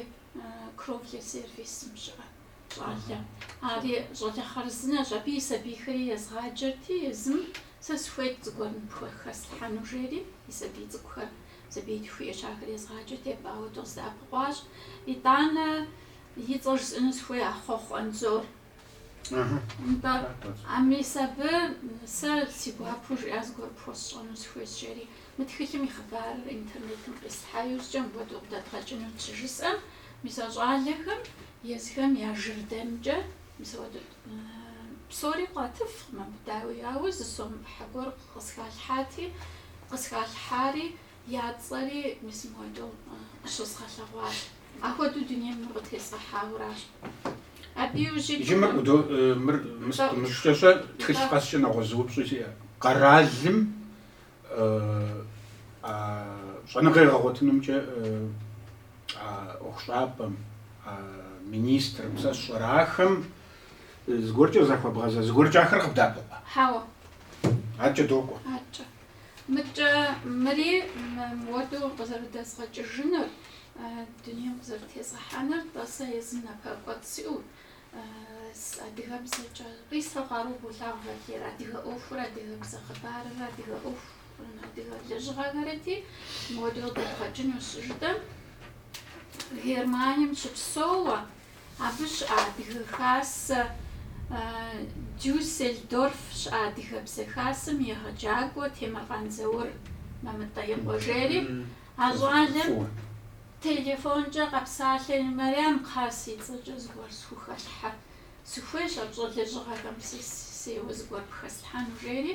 Кровле сервисым щыӏэ щӏалэ. Ари щӏалэ хъарзынэщ. Абы и сабийхэри езгъаджэрти, езым сэ сыхуейт зыгуэр ныпхухэслъхьэну жери, и сабий цӏыкӏухэр, сабиитху иӏэщ, ахэр езгъаджэрти, абы ауэдэу къыздэӏэпыкъуащ. Итӏанэ и цӏэр жысӏэну сыхуей Ахъуэхъу Анзор. Нтӏэ, а мис абы сэ си гуапэу жиӏа зыгуэр пхуэсщӏэну сыхуейщ жери, мы тхылъым и хъыбарыр интернетым къислъхьа иужькӏэ мыуэдэу къыдэдгъэкӏыну щыжысӏэм, мис а щӏалэхэм езыхэм я жырдэмкӏэ мис ауэдэу псори къатыфкъым абы, дауи, ауэ зы сом ӏыхьэ гуэр къысхалъхьати, къысхалъхьари, Я цӏэри мис мыуэдэу къыщызгъэлъэгъуащ. Апхуэдэу дунейм мыр къытезгъэхьауращ. Абы иужьи Иджы мыр къыдо, мыр мыщкӏэщӏэ, тхылъ къэскӏэ нэгъуэщӏ зы упщӏи сиӏэ. Къэралым а щӏэныгъэ егъэгъуэтынымкӏэ а ӏуэхущӏапӏэм, а министрым сэ сщӏэрэ, ахэм зыгуэркӏэ захуэбгъэза, зыгуэркӏэ ахэр къыбдэӏэпыкъуа? Хьэуэ. Адэкӏэ докӏуэ. Адэкӏэ. Мыкӏэ мыри мыуэду къызэрыдэзгъэкӏыжынур, дунейм къызэрытезгъэхьэнур, нтӏэ сэ езым напэкӏуэцӏ сиӏэу, адыгэбзэкӏэ къисэу къару болъагъу Валер, адыгэ ӏуэхур, адыгэбзэ хъыбарыр, адыгэ ӏуэху, адыгэ лэжьыгъэхэрэти мыуэду къыдэдгъэкӏыну щыжытӏэм, Германием щыпсэууэ Абы щыӏэ Адыгэ Хасэ, Дюссельдорф щыӏэ Адыгэбзэ Хасэм егъэджакӏуэ Темыркъан Заур Мамытӏэ и къуэ жери а щӏалэм телефонкӏэ къэпсалъэри, Мэрям кхъа си цӏэкӏэ зыгуэр схухэлъхьэ, сыхуейщ а пщӏэ лэжьыгъэхэм сысейуэ зыгуэр пхэслъхьэну, жери.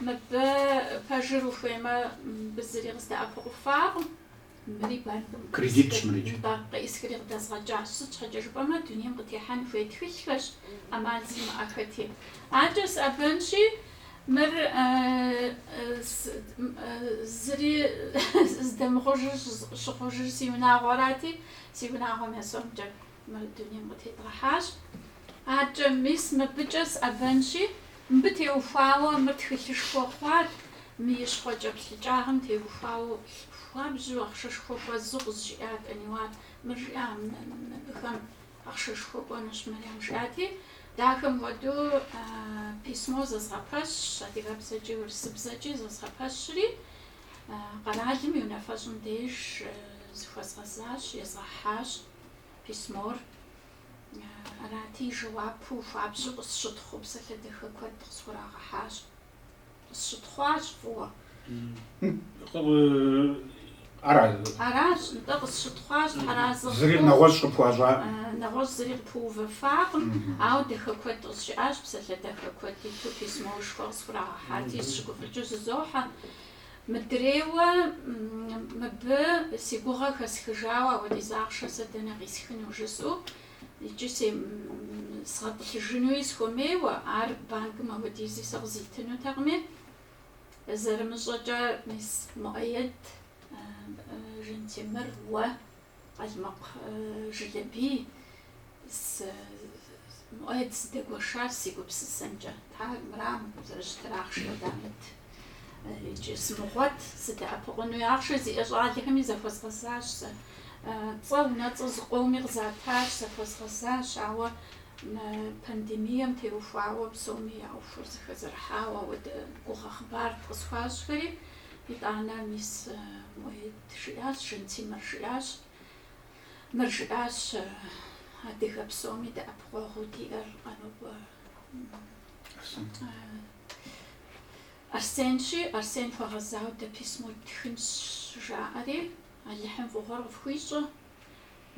Мыбы пэжыр ухуеймэ, мыбы зыри къыздэӏэпыкъуфакъым. Мыри банкым къеӏысхри къыдэзгъэкӏащ. Сыт щхьэкӏэ жыпӏэмэ, дунейм къытехьэн хуей тхылъхэщ, ӏэмал зимыӏэхэти. Адэкӏэ сыӏэбэнщи, мыр зыри здэмыхъужыр щыхъужыр си унагъуэрати, си унагъуэм я сомкӏэ Мы дунейм къытедгъэхьащ. Адэкӏэ, мис мыбыкӏэ сыӏэбэнщи, мыбы теухуауэ мыр тхылъышхуэ хъуат, мы и щхъуэкӏэплъыкӏагъым теухуауэ хуабжьу ахъшэшхуэ хуэзу къызжиӏат, Аниуар, мыр жиӏа, мыбыхэм ахъшэшхуэ кӏуэнущ, Мэриям жиӏати, дахэм хуэдэу письмо зэзгъэпэщщ, адыгэбзэкӏи урысыбзэкӏи зэзгъэпэщри, къэралым и унафэщӏым деж зыхуэзгъэзащ, езгъэхьащ. письмор. Арати, жэуапу хуабжьу къысщытхъуу псалъэ дахэ куэд къысхурагъэхьащ. Къысщытхъуащ фӏыуэ. Ара? Аращ, нтӏэ, къысщытхъуащ, тхьэразэ. Зыри нэгъуэщӏ къыпхуащӏа? Нэгъуэщӏ зыри къыпыувэфакъым, ауэ дахэ куэд къызжиӏащ, псалъэ дахэ куэд иту письмошхуэ къысхурагъэхьати, сщыгуфӏыкӏыу зызохьэ. Мыдрейуэ мыбы си гугъэ хэсхыжауэ апхуэдиз ахъшэ сэ дэнэ къисхыну жысӏэу икӏи сгъэтӏылъыжынуи схуэмейуэ, ар банкым апхуэдизи сэ къызитынутэкъыми, зэрымыщӏэкӏэ мис Муӏэед, Жэнтемыр, уэ, Къалмыкъ Жылэбий, Муӏэед сыдэгуэшар си гупсысэмкӏэ, Тхьэ, мырам зэрыщытыр ахъшэ дамыт. Иджы сымыгъуэт, сыдэӏэпыкъуну ахъшэ зиӏэ щӏалэхэми захуэзгъэзащ сэ. Цӏэ унэцӏэ зыкъоуми къызатащ, захуэзгъэзащ, ауэ мы пандемием теухуауэ псоми я ӏуэхур зэхэзэрыхьауэ ауэдэ гугъэ хъыбар къысхуащӏхэри, итӏанэ мис Муӏэед. Жиӏащ Жэнтемыр жиӏащ. Мыр жиӏащ адыгэ псоми дэӏэпыкъуэгъуу диӏэр Къанокъуэ Арсенщи, Арсен хуэгъэзауэ дэ письмо ттхынщ жаӏэри, Алыхьым фӏыгъуэр къыфхуищӏэ,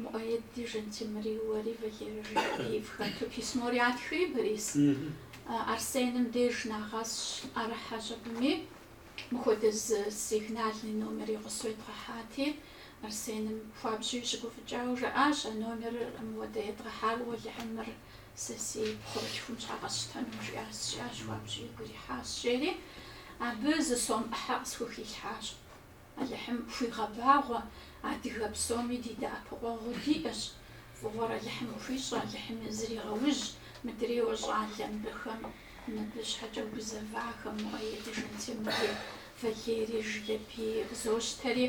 Муӏэеди, Жэнтемыри, уэри, Валери фыхэту письмор ятхри, Борис Арсеным деж нагъэсщ ӏэрыхьэщ абыми. Мыпхуэдэ зы сигнальный номери къысщӏедгъэхьати, Арсеным хуабжьу щыгуфӏыкӏауэ жаӏащ, А номерыр мыуэдэ едгъэхьауэ, Алыхь, мыр сэ си пхъурылъхум щхьэ къэсщтэну жиӏащ. Жиӏащ, хуабжьу игу ирихьащ, жери абы зы сом ӏыхьэ къысхухилъхьащ. Алыхьым хуигъэбагъуэ, адыгэ псоми ди дэӏэпыкъуэгъуу диӏэщ. Фӏыгъуэр Алыхьым хуищӏэ, Алыхьым зригъэужь, мыдрейуэ щӏалэ мыбыхэм Мыбы щхьэкӏэ гузэвахэм Муӏэеди Жэнтемыри, Валери, Жылэбии къызощтэри,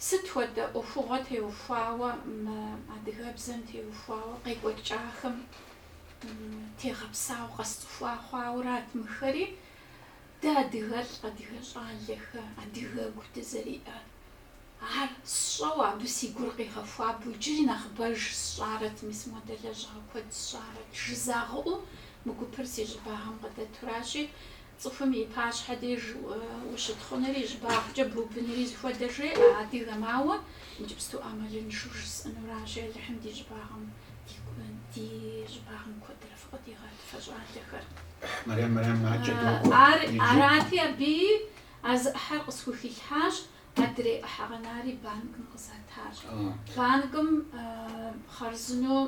сыт хуэдэ ӏуэхугъуэ теухуауэ мы адыгэбзэм теухуауэ къекӏуэкӏахэм тегъэпсауэ къэсцӏыхуа хъуаурат мыхэри, дэ адыгэлӏ, адыгэ щӏалэхэ, адыгэгу дызэриӏэр. Ар сщӏэу абы си гур къигъэхуабэу иджыри нэхъыбэж сщӏарэт, мис модэ лэжьыгъэ куэд сщӏарэт, жызагъыӏэу мы гупыр си щӏыбагъым къыдэтуращи, цӏыхум и пащхьэ деж ущытхъунри, щӏыбагъкӏэ бубынри зыхуэдэ жеӏэ адыгэм, ауэ иджыпсту ӏэмалыншэу жысӏэнуращи, Алыхьым ди щӏыбагъым, ди щӏыбагъым куэдрэ фыкъыдигъэт, фэ щӏалэхэр. Арати, абы а зы ӏыхьэр къысхухилъхьащ. Адрей ӏыхьэ къэнари банкым къызатащ. Банкым хъарзынэу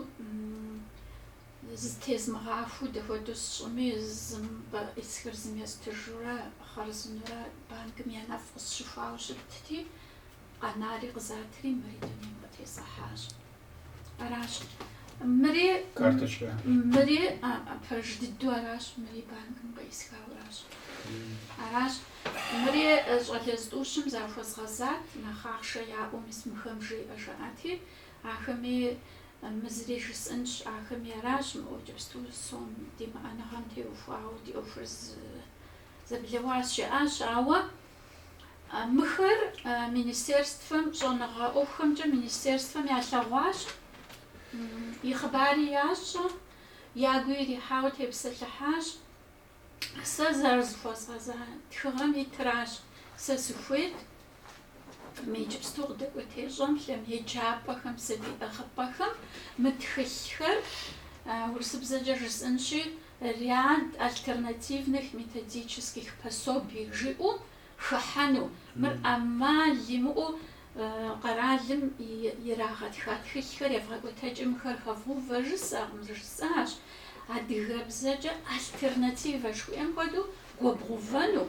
зытезмыгъахуэу дапхуэдэу сщӏыми, зым къыӏисхыр зым естыжурэ, хъарзынэурэ банкым я нэфӏ къысщыхуауэ щытти, къэнари къызатри, мыри дунейм къытесхьащ. Аращ. Мыри, мыри пэж дыдэу аращ, мыри банкым къисхауэращ. Аращ. Мыри щӏалэ зытӏущым захуэзгъэзат, нэхъ ахъшэ яӏэу мис мыхэм жеӏэ жаӏати, ахэми мы зыри жысӏэнщ, ахэми аращ мы иджыпсту сом димыӏэныгъэм теухуауэ ди ӏуэхур зэблэуащ жаӏащ, ауэ Мыхэр министерствэм щӏэныгъэ ӏуэхухэмкӏэ министерствэм ялъэгъуащ, и хъыбари ящӏэ, ягу ирихьауэ тепсэлъыхьащ. Сэ зэрызыхуэзгъэза тхыгъэм итращ сэ сыхуейт мы иджыпсту къыдэкӏуэтей щӏэблэм еджапӏэхэм сабий ӏыгъыпӏэхэм мы тхылъхэр урысыбзэкӏэ жысӏэнщи Ряд альтернативных методических пособий жиӏэу хыхьэну, мыр ӏэмал имыӏэу къэралым ирагъэтха тхылъхэр евгъэкӏуэтэкӏи мыхэр хэвгъэувэ жысӏэкъым, сэ жысӏащ. Адыгэбзэкӏэ альтернативэ жыхуиӏэм хуэдэу гуэбгъэувэну,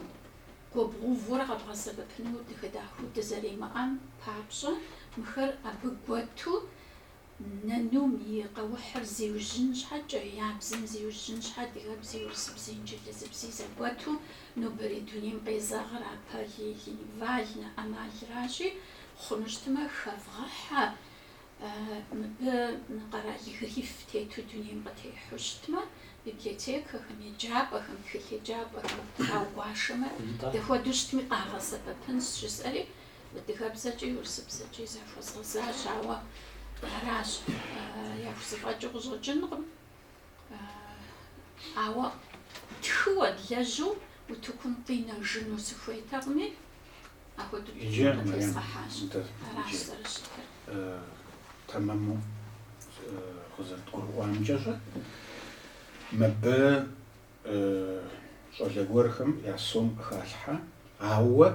гуэбгъэувэурэ къэбгъэсэбэпыну дыхэдахыу дызэримыӏэм папщӏэ, мыхэр абы гуэту, Нанум и къэухьыр зиужьын щхьэкӏэ, я бзэм зиужьын щхьэ адыгэбзи, урысыбзи, инджылызыбзи зэгуэту нобэрей дунейм къезэгъыр а полилингвальнэ ӏэмалращи, хъуну щытмэ, хэвгъэхьэ, мыбы къэрал гриф тету дунейм къытехьу щытмэ, библиотекэхэм, еджапӏэхэм, тхылъеджапӏэхэм трагуашэмэ, дапхуэдэу щытми къагъэсэбэпынщ, жысӏэри, Адыгэбзэкӏи урысыбзэкӏи захуэзгъэзащ, ауэ аращ яхузэфӏэкӏыу къыщӏэкӏынкъым. Ауэ тхыуэ длэжьу утыкум къинэжыну сыхуейтэкъыми, апхуэдэу къытезгъэхьащ. Аращ зэрыщытыр. Тэмэму къызэрыдгурыӏуамкӏэ щэ, мыбы щӏалэ гуэрхэм я сом къыхалъхьэ, ауэ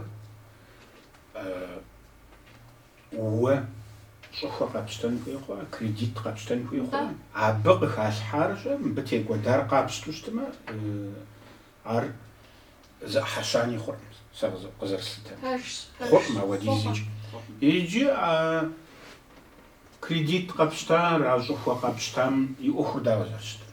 уэ щӏыхуэ къэпщтэн хуей хъуа, кредит къэпщтэн хуей хъуа? Абы къыхалъхьар щэ, мыбы текӏуэдар къапщту щытмэ, ар зы ӏыхьэ щани хъуркъым, сэ къызэрыслъытэмкӏэ. Пэжщ, пэжщ. Хъуркъым апхуэдизкӏэ. Иджы а кредит къэпщтар, а щӏыхуэ къэпщтам и ӏуэхур дауэ зэрыщытыр?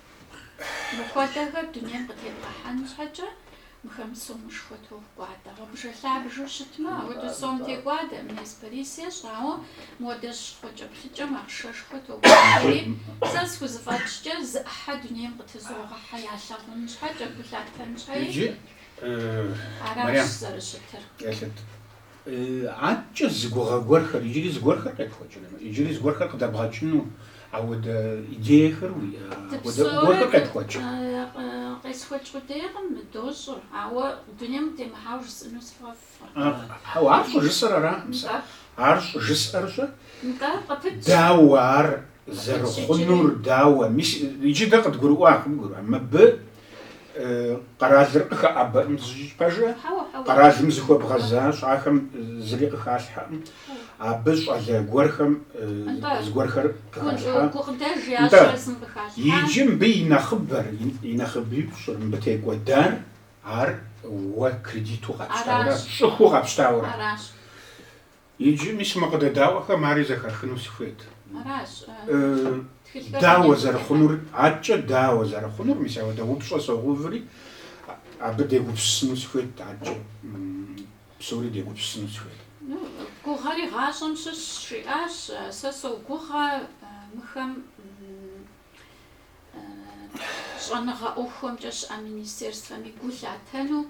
Мыхуэдэхэр дунейм къытебгъэхьэн щхьэкӏэ, мыхэм сомышхуэ токӏуадэ. Гъуабжэ-лъабжэу щытмэ, ауэду сом текӏуадэ. Мес Борис ещӏэ, ауэ модэ щхъуэкӏэплъыкӏэм ахъшэшхуэ токӏуадэри, сэ схузэфӏэкӏкӏэ, зы ӏыхьэ дунейм къытызогъэхьэ ялъэгъун щхьэкӏэ, гу лъатэн щхьэи, аращ зэрыщытыр. Адэкӏэ зы гугъэ гуэрхэр, иджыри зыгуэрхэр къепхуэкӏырэ? Иджыри зыгуэрхэр къыдэбгъэкӏыну ауэдэ идеехэр уиӏэ? Ауэдэ гуэрхэр къепхуэкӏ? Къесхуэкӏ къудейкъым, дощӏыр, ауэ дунейм темыхьауэ жысӏэну сфӏэфӏкъым. Ар щӏыжысӏэр аракъым сэ. Ар щӏыжысӏэр щэ? Дауэ ар? Зэрыхъунур дауэ? Мис иджы дэ къыдгурыӏуакъым, гурыӏуа? Мыбы къэралыр къыхэӏэбэӏым зыкӏи, пэжэ, къэралым зыхуэбгъэзащ, ахэм зыри къыхалъхьэкъым. Абы щӏалэ гуэрхэм зыгуэрхэр къыхалъхьэ. Нтӏэ, иджы мыбы и нэхъыбэр, и нэхъыбипщӏыр, мыбы текӏуэдар, ар уэ кредиту къэпщтаурэ, щӏыхуу къэпщтаурэ. Иджы, мис, мы къыдэдаӏуэхэм ари зэхахыну сыхуейт. Аращ. Тхылъхэр. Дауэ зэрыхъунур, аткӏэ дауэ зэрыхъунур, мис ауэдэ упщӏэ согъэуври, абы дегупсысыну сыхуейт, аткӏэ псори дегупсысыну сыхуейт. Ну, гугъэри гъащӏэм щыщщ, жиӏащ. Сэ согугъэ мыхэм щӏэныгъэ ӏуэхухэмкӏэ щыӏэ министерствэми гу лъатэну,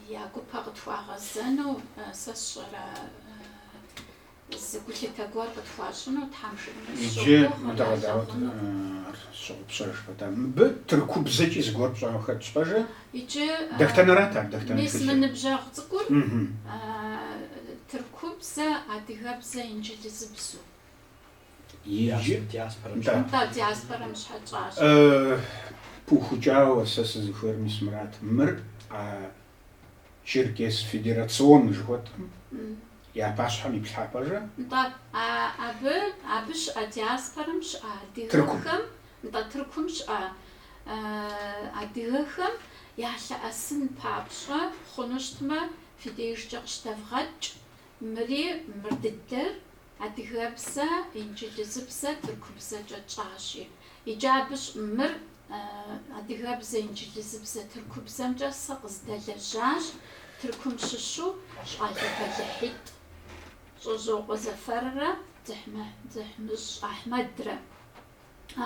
Я гупэ къытхуагъэзэну сэ сщӏэрэ, зы гулъытэ гуэр къытхуащӏыну Тхьэм жиӏэну Иджы мыдэ сщогугъ, къэдаӏуэт, ялъагъуну. ар сщыгъупщэж пэтащ? Мыбы тыркубзэкӏи зыгуэр пщӏауэ хэтщ, пэжэ? Иджы Дэхтэнэрат ар, дэхтэн мис мы тхылъыр. ныбжьэгъу цӏыкӏур Мхм. тыркубзэ, адыгэбзэ, инджылызыбзу. Иджы Нтӏэ, диаспорэм щхьэ тщӏащ. Пыухыкӏауэ сэ сызыхуейр, мис мырат, мыр а Черкес федерацион жыхуэтӏэм я пащхьэм иплъхьэ, пэжэ? Нтӏэ, абы, абы щыӏэ диаспорэм щыӏэ адыгэхэм, нтӏэ, Тыркум щыӏэ адыгэхэм ялъэӏэсын папщӏэ хъуну щытмэ, фи дежкӏэ къыщыдэвгъэкӏ, мыри мыр дыдэр Адыгэбзэ, инджылызыбзэ, тыркубзэкӏэ тщӏащи. Иджы абы щ. Мыр адыгэбзэ, инджылызыбзэ, тыркубзэмкӏэ сэ къыздэлэжьащ, Тыркум щыщу щӏалэ бэлыхьитӏ Щӏэжьокъуэ Зэфэррэ Дзыхьмыщӏ Ахьмэдрэ.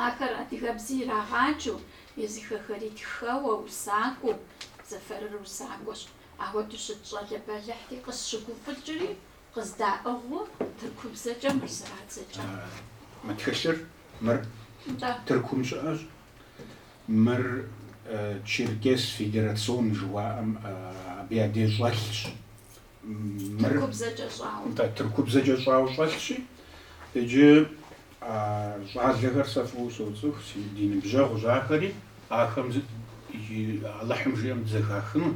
Ахэр адыгэбзи ирагъаджэу, езыхэхэри тхэуэ, усакӏуэу. Зэфэрыр усакӏуэщ. Ахуэдэу щыт щӏалэ бэлыхьти, къысщыгуфӏыкӏри, Къыздаӏыгъыу тыркубзэкӏэ мыр зэрадзэкӏа. Мы тхылъыр мыр Тыркум щыӏэщ, мыр Черкес федерацион жыуаӏэм абы я деж щӏэлъщ. Тыркубзэкӏэ щӏауэ. Нтӏэ, тыркубзэкӏэ щӏауэ щӏэлъщи, иджы а щӏалэхэр сэ фӏыуэ соцӏыху, си ди ныбжьэгъущ ахэри, ахэм иджы Алыхьым жиӏэм дызэхахыну,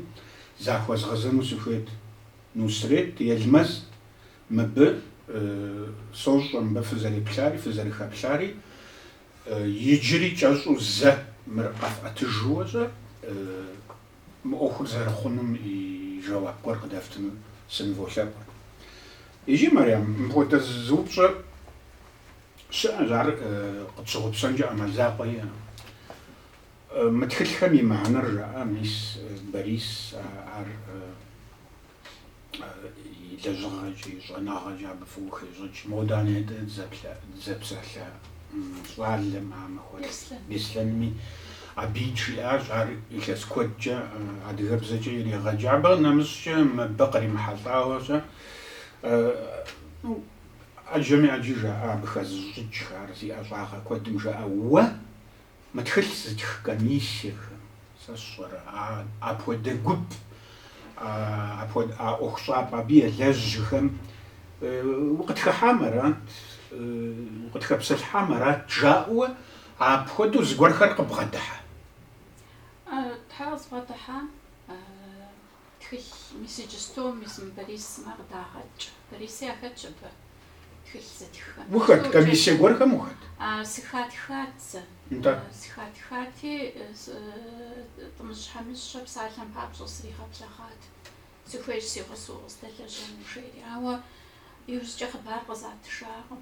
захуэзгъэзэну сыхуейт. Нусрет, Елмэз, мыбы, сощӏэ мыбы фызэреплъари, фызэрыхэплъари, иджыри кӏэщӏу зэ мыр къэфӏэтыжыуэ-щэ, мы ӏуэхур зэрыхъунум и жэуап гуэр къыдэфтыну сыныволъэӏу. Иджы, Марьям, мыпхуэдэ зы упщӏэ щыӏэщ, ар къытщыгъупщэнкӏэ ӏэмал закъуэ иӏэкъым. Мы тхылъхэм и мыхьэнэр жаӏэ мис Борис ар и лэжьыгъэкӏи, и щӏэныгъэкӏи абы фӏыуэ хещӏыкӏ. Модэ нетӏэ дызэпсэлъа щӏалэм, а Махуэлӏ Беслъэнми абыи жиӏащ, ар илъэс куэдкӏэ адыгэбзэкӏэ иригъэджа. Абы нэмыщӏкӏэ мыбы къримыхьэлӏауэ-щэ, ну, ӏэджэми ӏэджи жаӏэ абы хэзыщӏыкӏхэ, ар зи ӏэщӏагъэ куэдым жаӏэ. Уэ Мы тхылъ зытх комиссиехэм, сэ сщӏэрэ, апхуэдэ гуп, а ӏуэхущӏапӏэ абы елэжьхэм укъытхыхьам арат, укъытхэпсэлъыхьам арат жаӏэуэ апхуэдэу зыгуэрхэр къыббгъэдыхьэ. Тхьэ къызбгъэдыхьэ, Тхылъ мис иджысту, мис мы Борис сымэ къыдагъэкӏ. Бориси ахэтщ абы тхылъ зытххэм. Ухэт? Комиссие гуэрхэм ухэт? А, сыхатхат сэ. Нтӏэ. Сыхатхати, Тӏымыжь Хьэмыщэ псалъэм папщӏэ сригъэблэгъат. Сыхуейщ си гъусэу къысдэлэжьэну жери. Ауэ иужькӏэ хъыбар къызатыжакъым.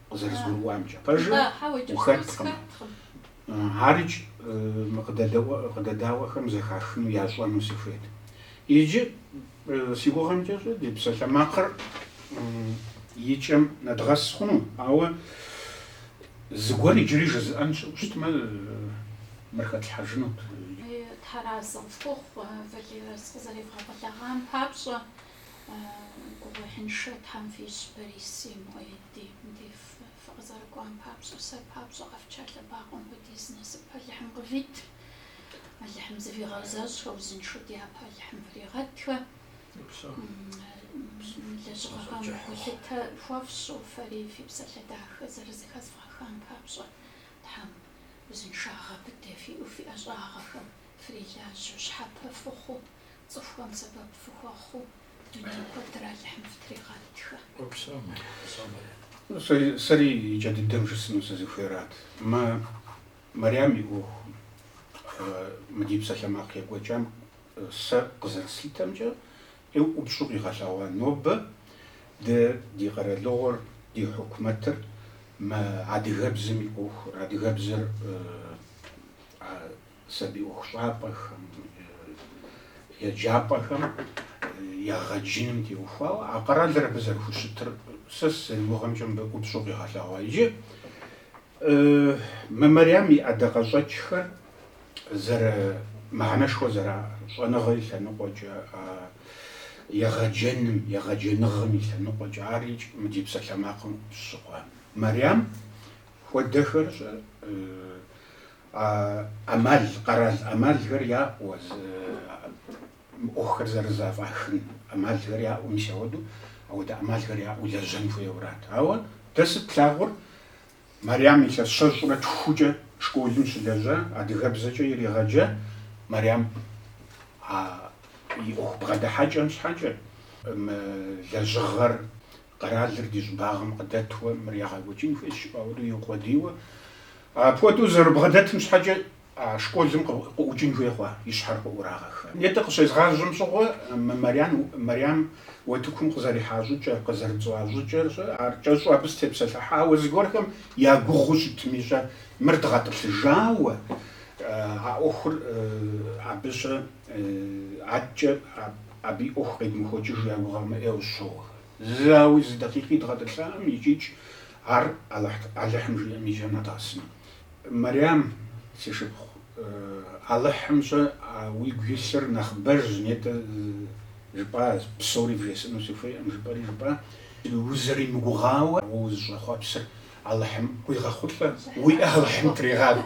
къызэрызгурыӏуамкӏэ, пэжыр ухэткъым. Ар икӏи мы къыдэдаӏуэхэм зэхахыну ящӏэну сыхуейт. Иджы, си гугъэмкӏэ-щэ, ди псалъэмакъыр и кӏэм нэдгъэс хъуну, ауэ зыгуэр иджыри жызыӏэн щыӏэу щытмэ, мыр хэтлъхьэжынут. Тхьэразэ фхухъу, Валерэ, сыкъызэревгъэблэгъам папщӏэ. Гугъуехьыншэ Тхьэм фищӏ, Бориси Муӏэе. Ди ди фы фыкъызэрыкӏуам папщӏэ, сэ папщӏэ къэфча лъэбакъуэм хуэдиз насып Алыхьым къывит. Алыхьым зывигъэзэщӏхэ, узыншэу дяпэ Алыхьым фригъэтхэ. Лэжьыгъэхэм гулъытэ хуэфщӏу, фэри фи псалъэ дахэ зэрызыхэзывгъэхам папщӏэ, Тхьэм узыншагъэ быдэ фиӏэу фи ӏэщӏагъэхэм фрилажьэу, щхьэпэ фыхъуу, цӏыхухэм сэбэп фыхуэхъуу. Дуней куэдыр Алыхьым фытригъэтхэ. Сэри иджы дыдэм жысӏэну сызыхуейрат. Мы Мэриям и ӏуэхум, мы ди псалъэмакъ екӏуэкӏам сэ къызэрыслъытэмкӏэ, ӏупщӏу къигъэлъэгъуа нобэ дэ ди къэралыгъуэр, ди хьукумэтыр мы адыгэбзэм и ӏуэхур, адыгэбзэр сабий ӏуэхущӏапӏэхэм, еджапӏэхэм ягъэджыным теухуауэ а къэралыр абы зэрыхущытыр сэ сызэригугъэмкӏэ мыбы ӏупщӏу къигъэлъэгъуа. Иджы мы Мэриям и ӏэдакъэщӏэкӏхэр зэры мыхьэнэшхуэ зэраӏэ щӏэныгъэ и лъэныкъуэкӏэ, а егъэджэным, егъэджэныгъэм и лъэныкъуэкӏэ ар икӏ мы ди псалъэмакъым щыгъуэ Мэриям хуэдэхэр щӏэ ӏэмал, къэрал ӏэмалхэр яӏуэ, ӏуэхухэр зэрызэфӏахын ӏэмалхэр яӏуэ, мис ауэдэу, ауэдэ ӏэмалхэр яӏэу лэжьэн хуейуэрат. Ауэ дэ сыт тлъагъур, Мэрям илъэс щэщӏрэ тхукӏэ школым щылэжьа, адыгэбзэкӏэ иригъэджа, Мэрям а и ӏуэху бгъэдыхьэкӏэм щхьэкӏэ мы лэжьыгъэр къэралыр ди щӏыбагъым къыдэтуэ мыр ягъэкӏуэкӏын хуейщ жыпӏа хуэдэу иукъуэдийуэ. Апхуэдэу зэрыбгъэдэтым щхьэкӏэ а школым къыӏукӏын хуей хъуа, и щхьэр къыӏурагъэха. Нетӏэ къыщезгъажьэм щыгъуэ мы Мэрям уэтыкум къызэрихьа щӏыкӏэр, къызэрытцӏыхуа щӏыкӏэр щӏэ, ар кӏэщӏу абы сытепсэлъыхьауэ зыгуэрхэм я гугъуу щытми щӏэ, мыр дгъэтӏылъыжауэ а ӏуэхур абы щӏэ. Адэкӏэ абы и ӏуэху къедмыхуэкӏыжу я гугъэмэ ӏейуэ щоуэ. Зауи зы дакъикъи дгъэтӏылъаӏым, икӏикӏ ар Алыхьым жиӏэм и кӏэм нэдгъэсыну. Мэрям, си шыпхъу, Алыхьым ещӏэ уигу илъыр нэхъыбэжщ, нетӏэ жыпӏа, псори вжесӏэну сыхуейӏым, жыпӏэри жыпӏа, узэримыгугъауэ уэ узыщӏэхъуэпсыр Алыхьым къуигъэхъулӏэ, уи ӏэ Алыхьым тригъакӏуэ.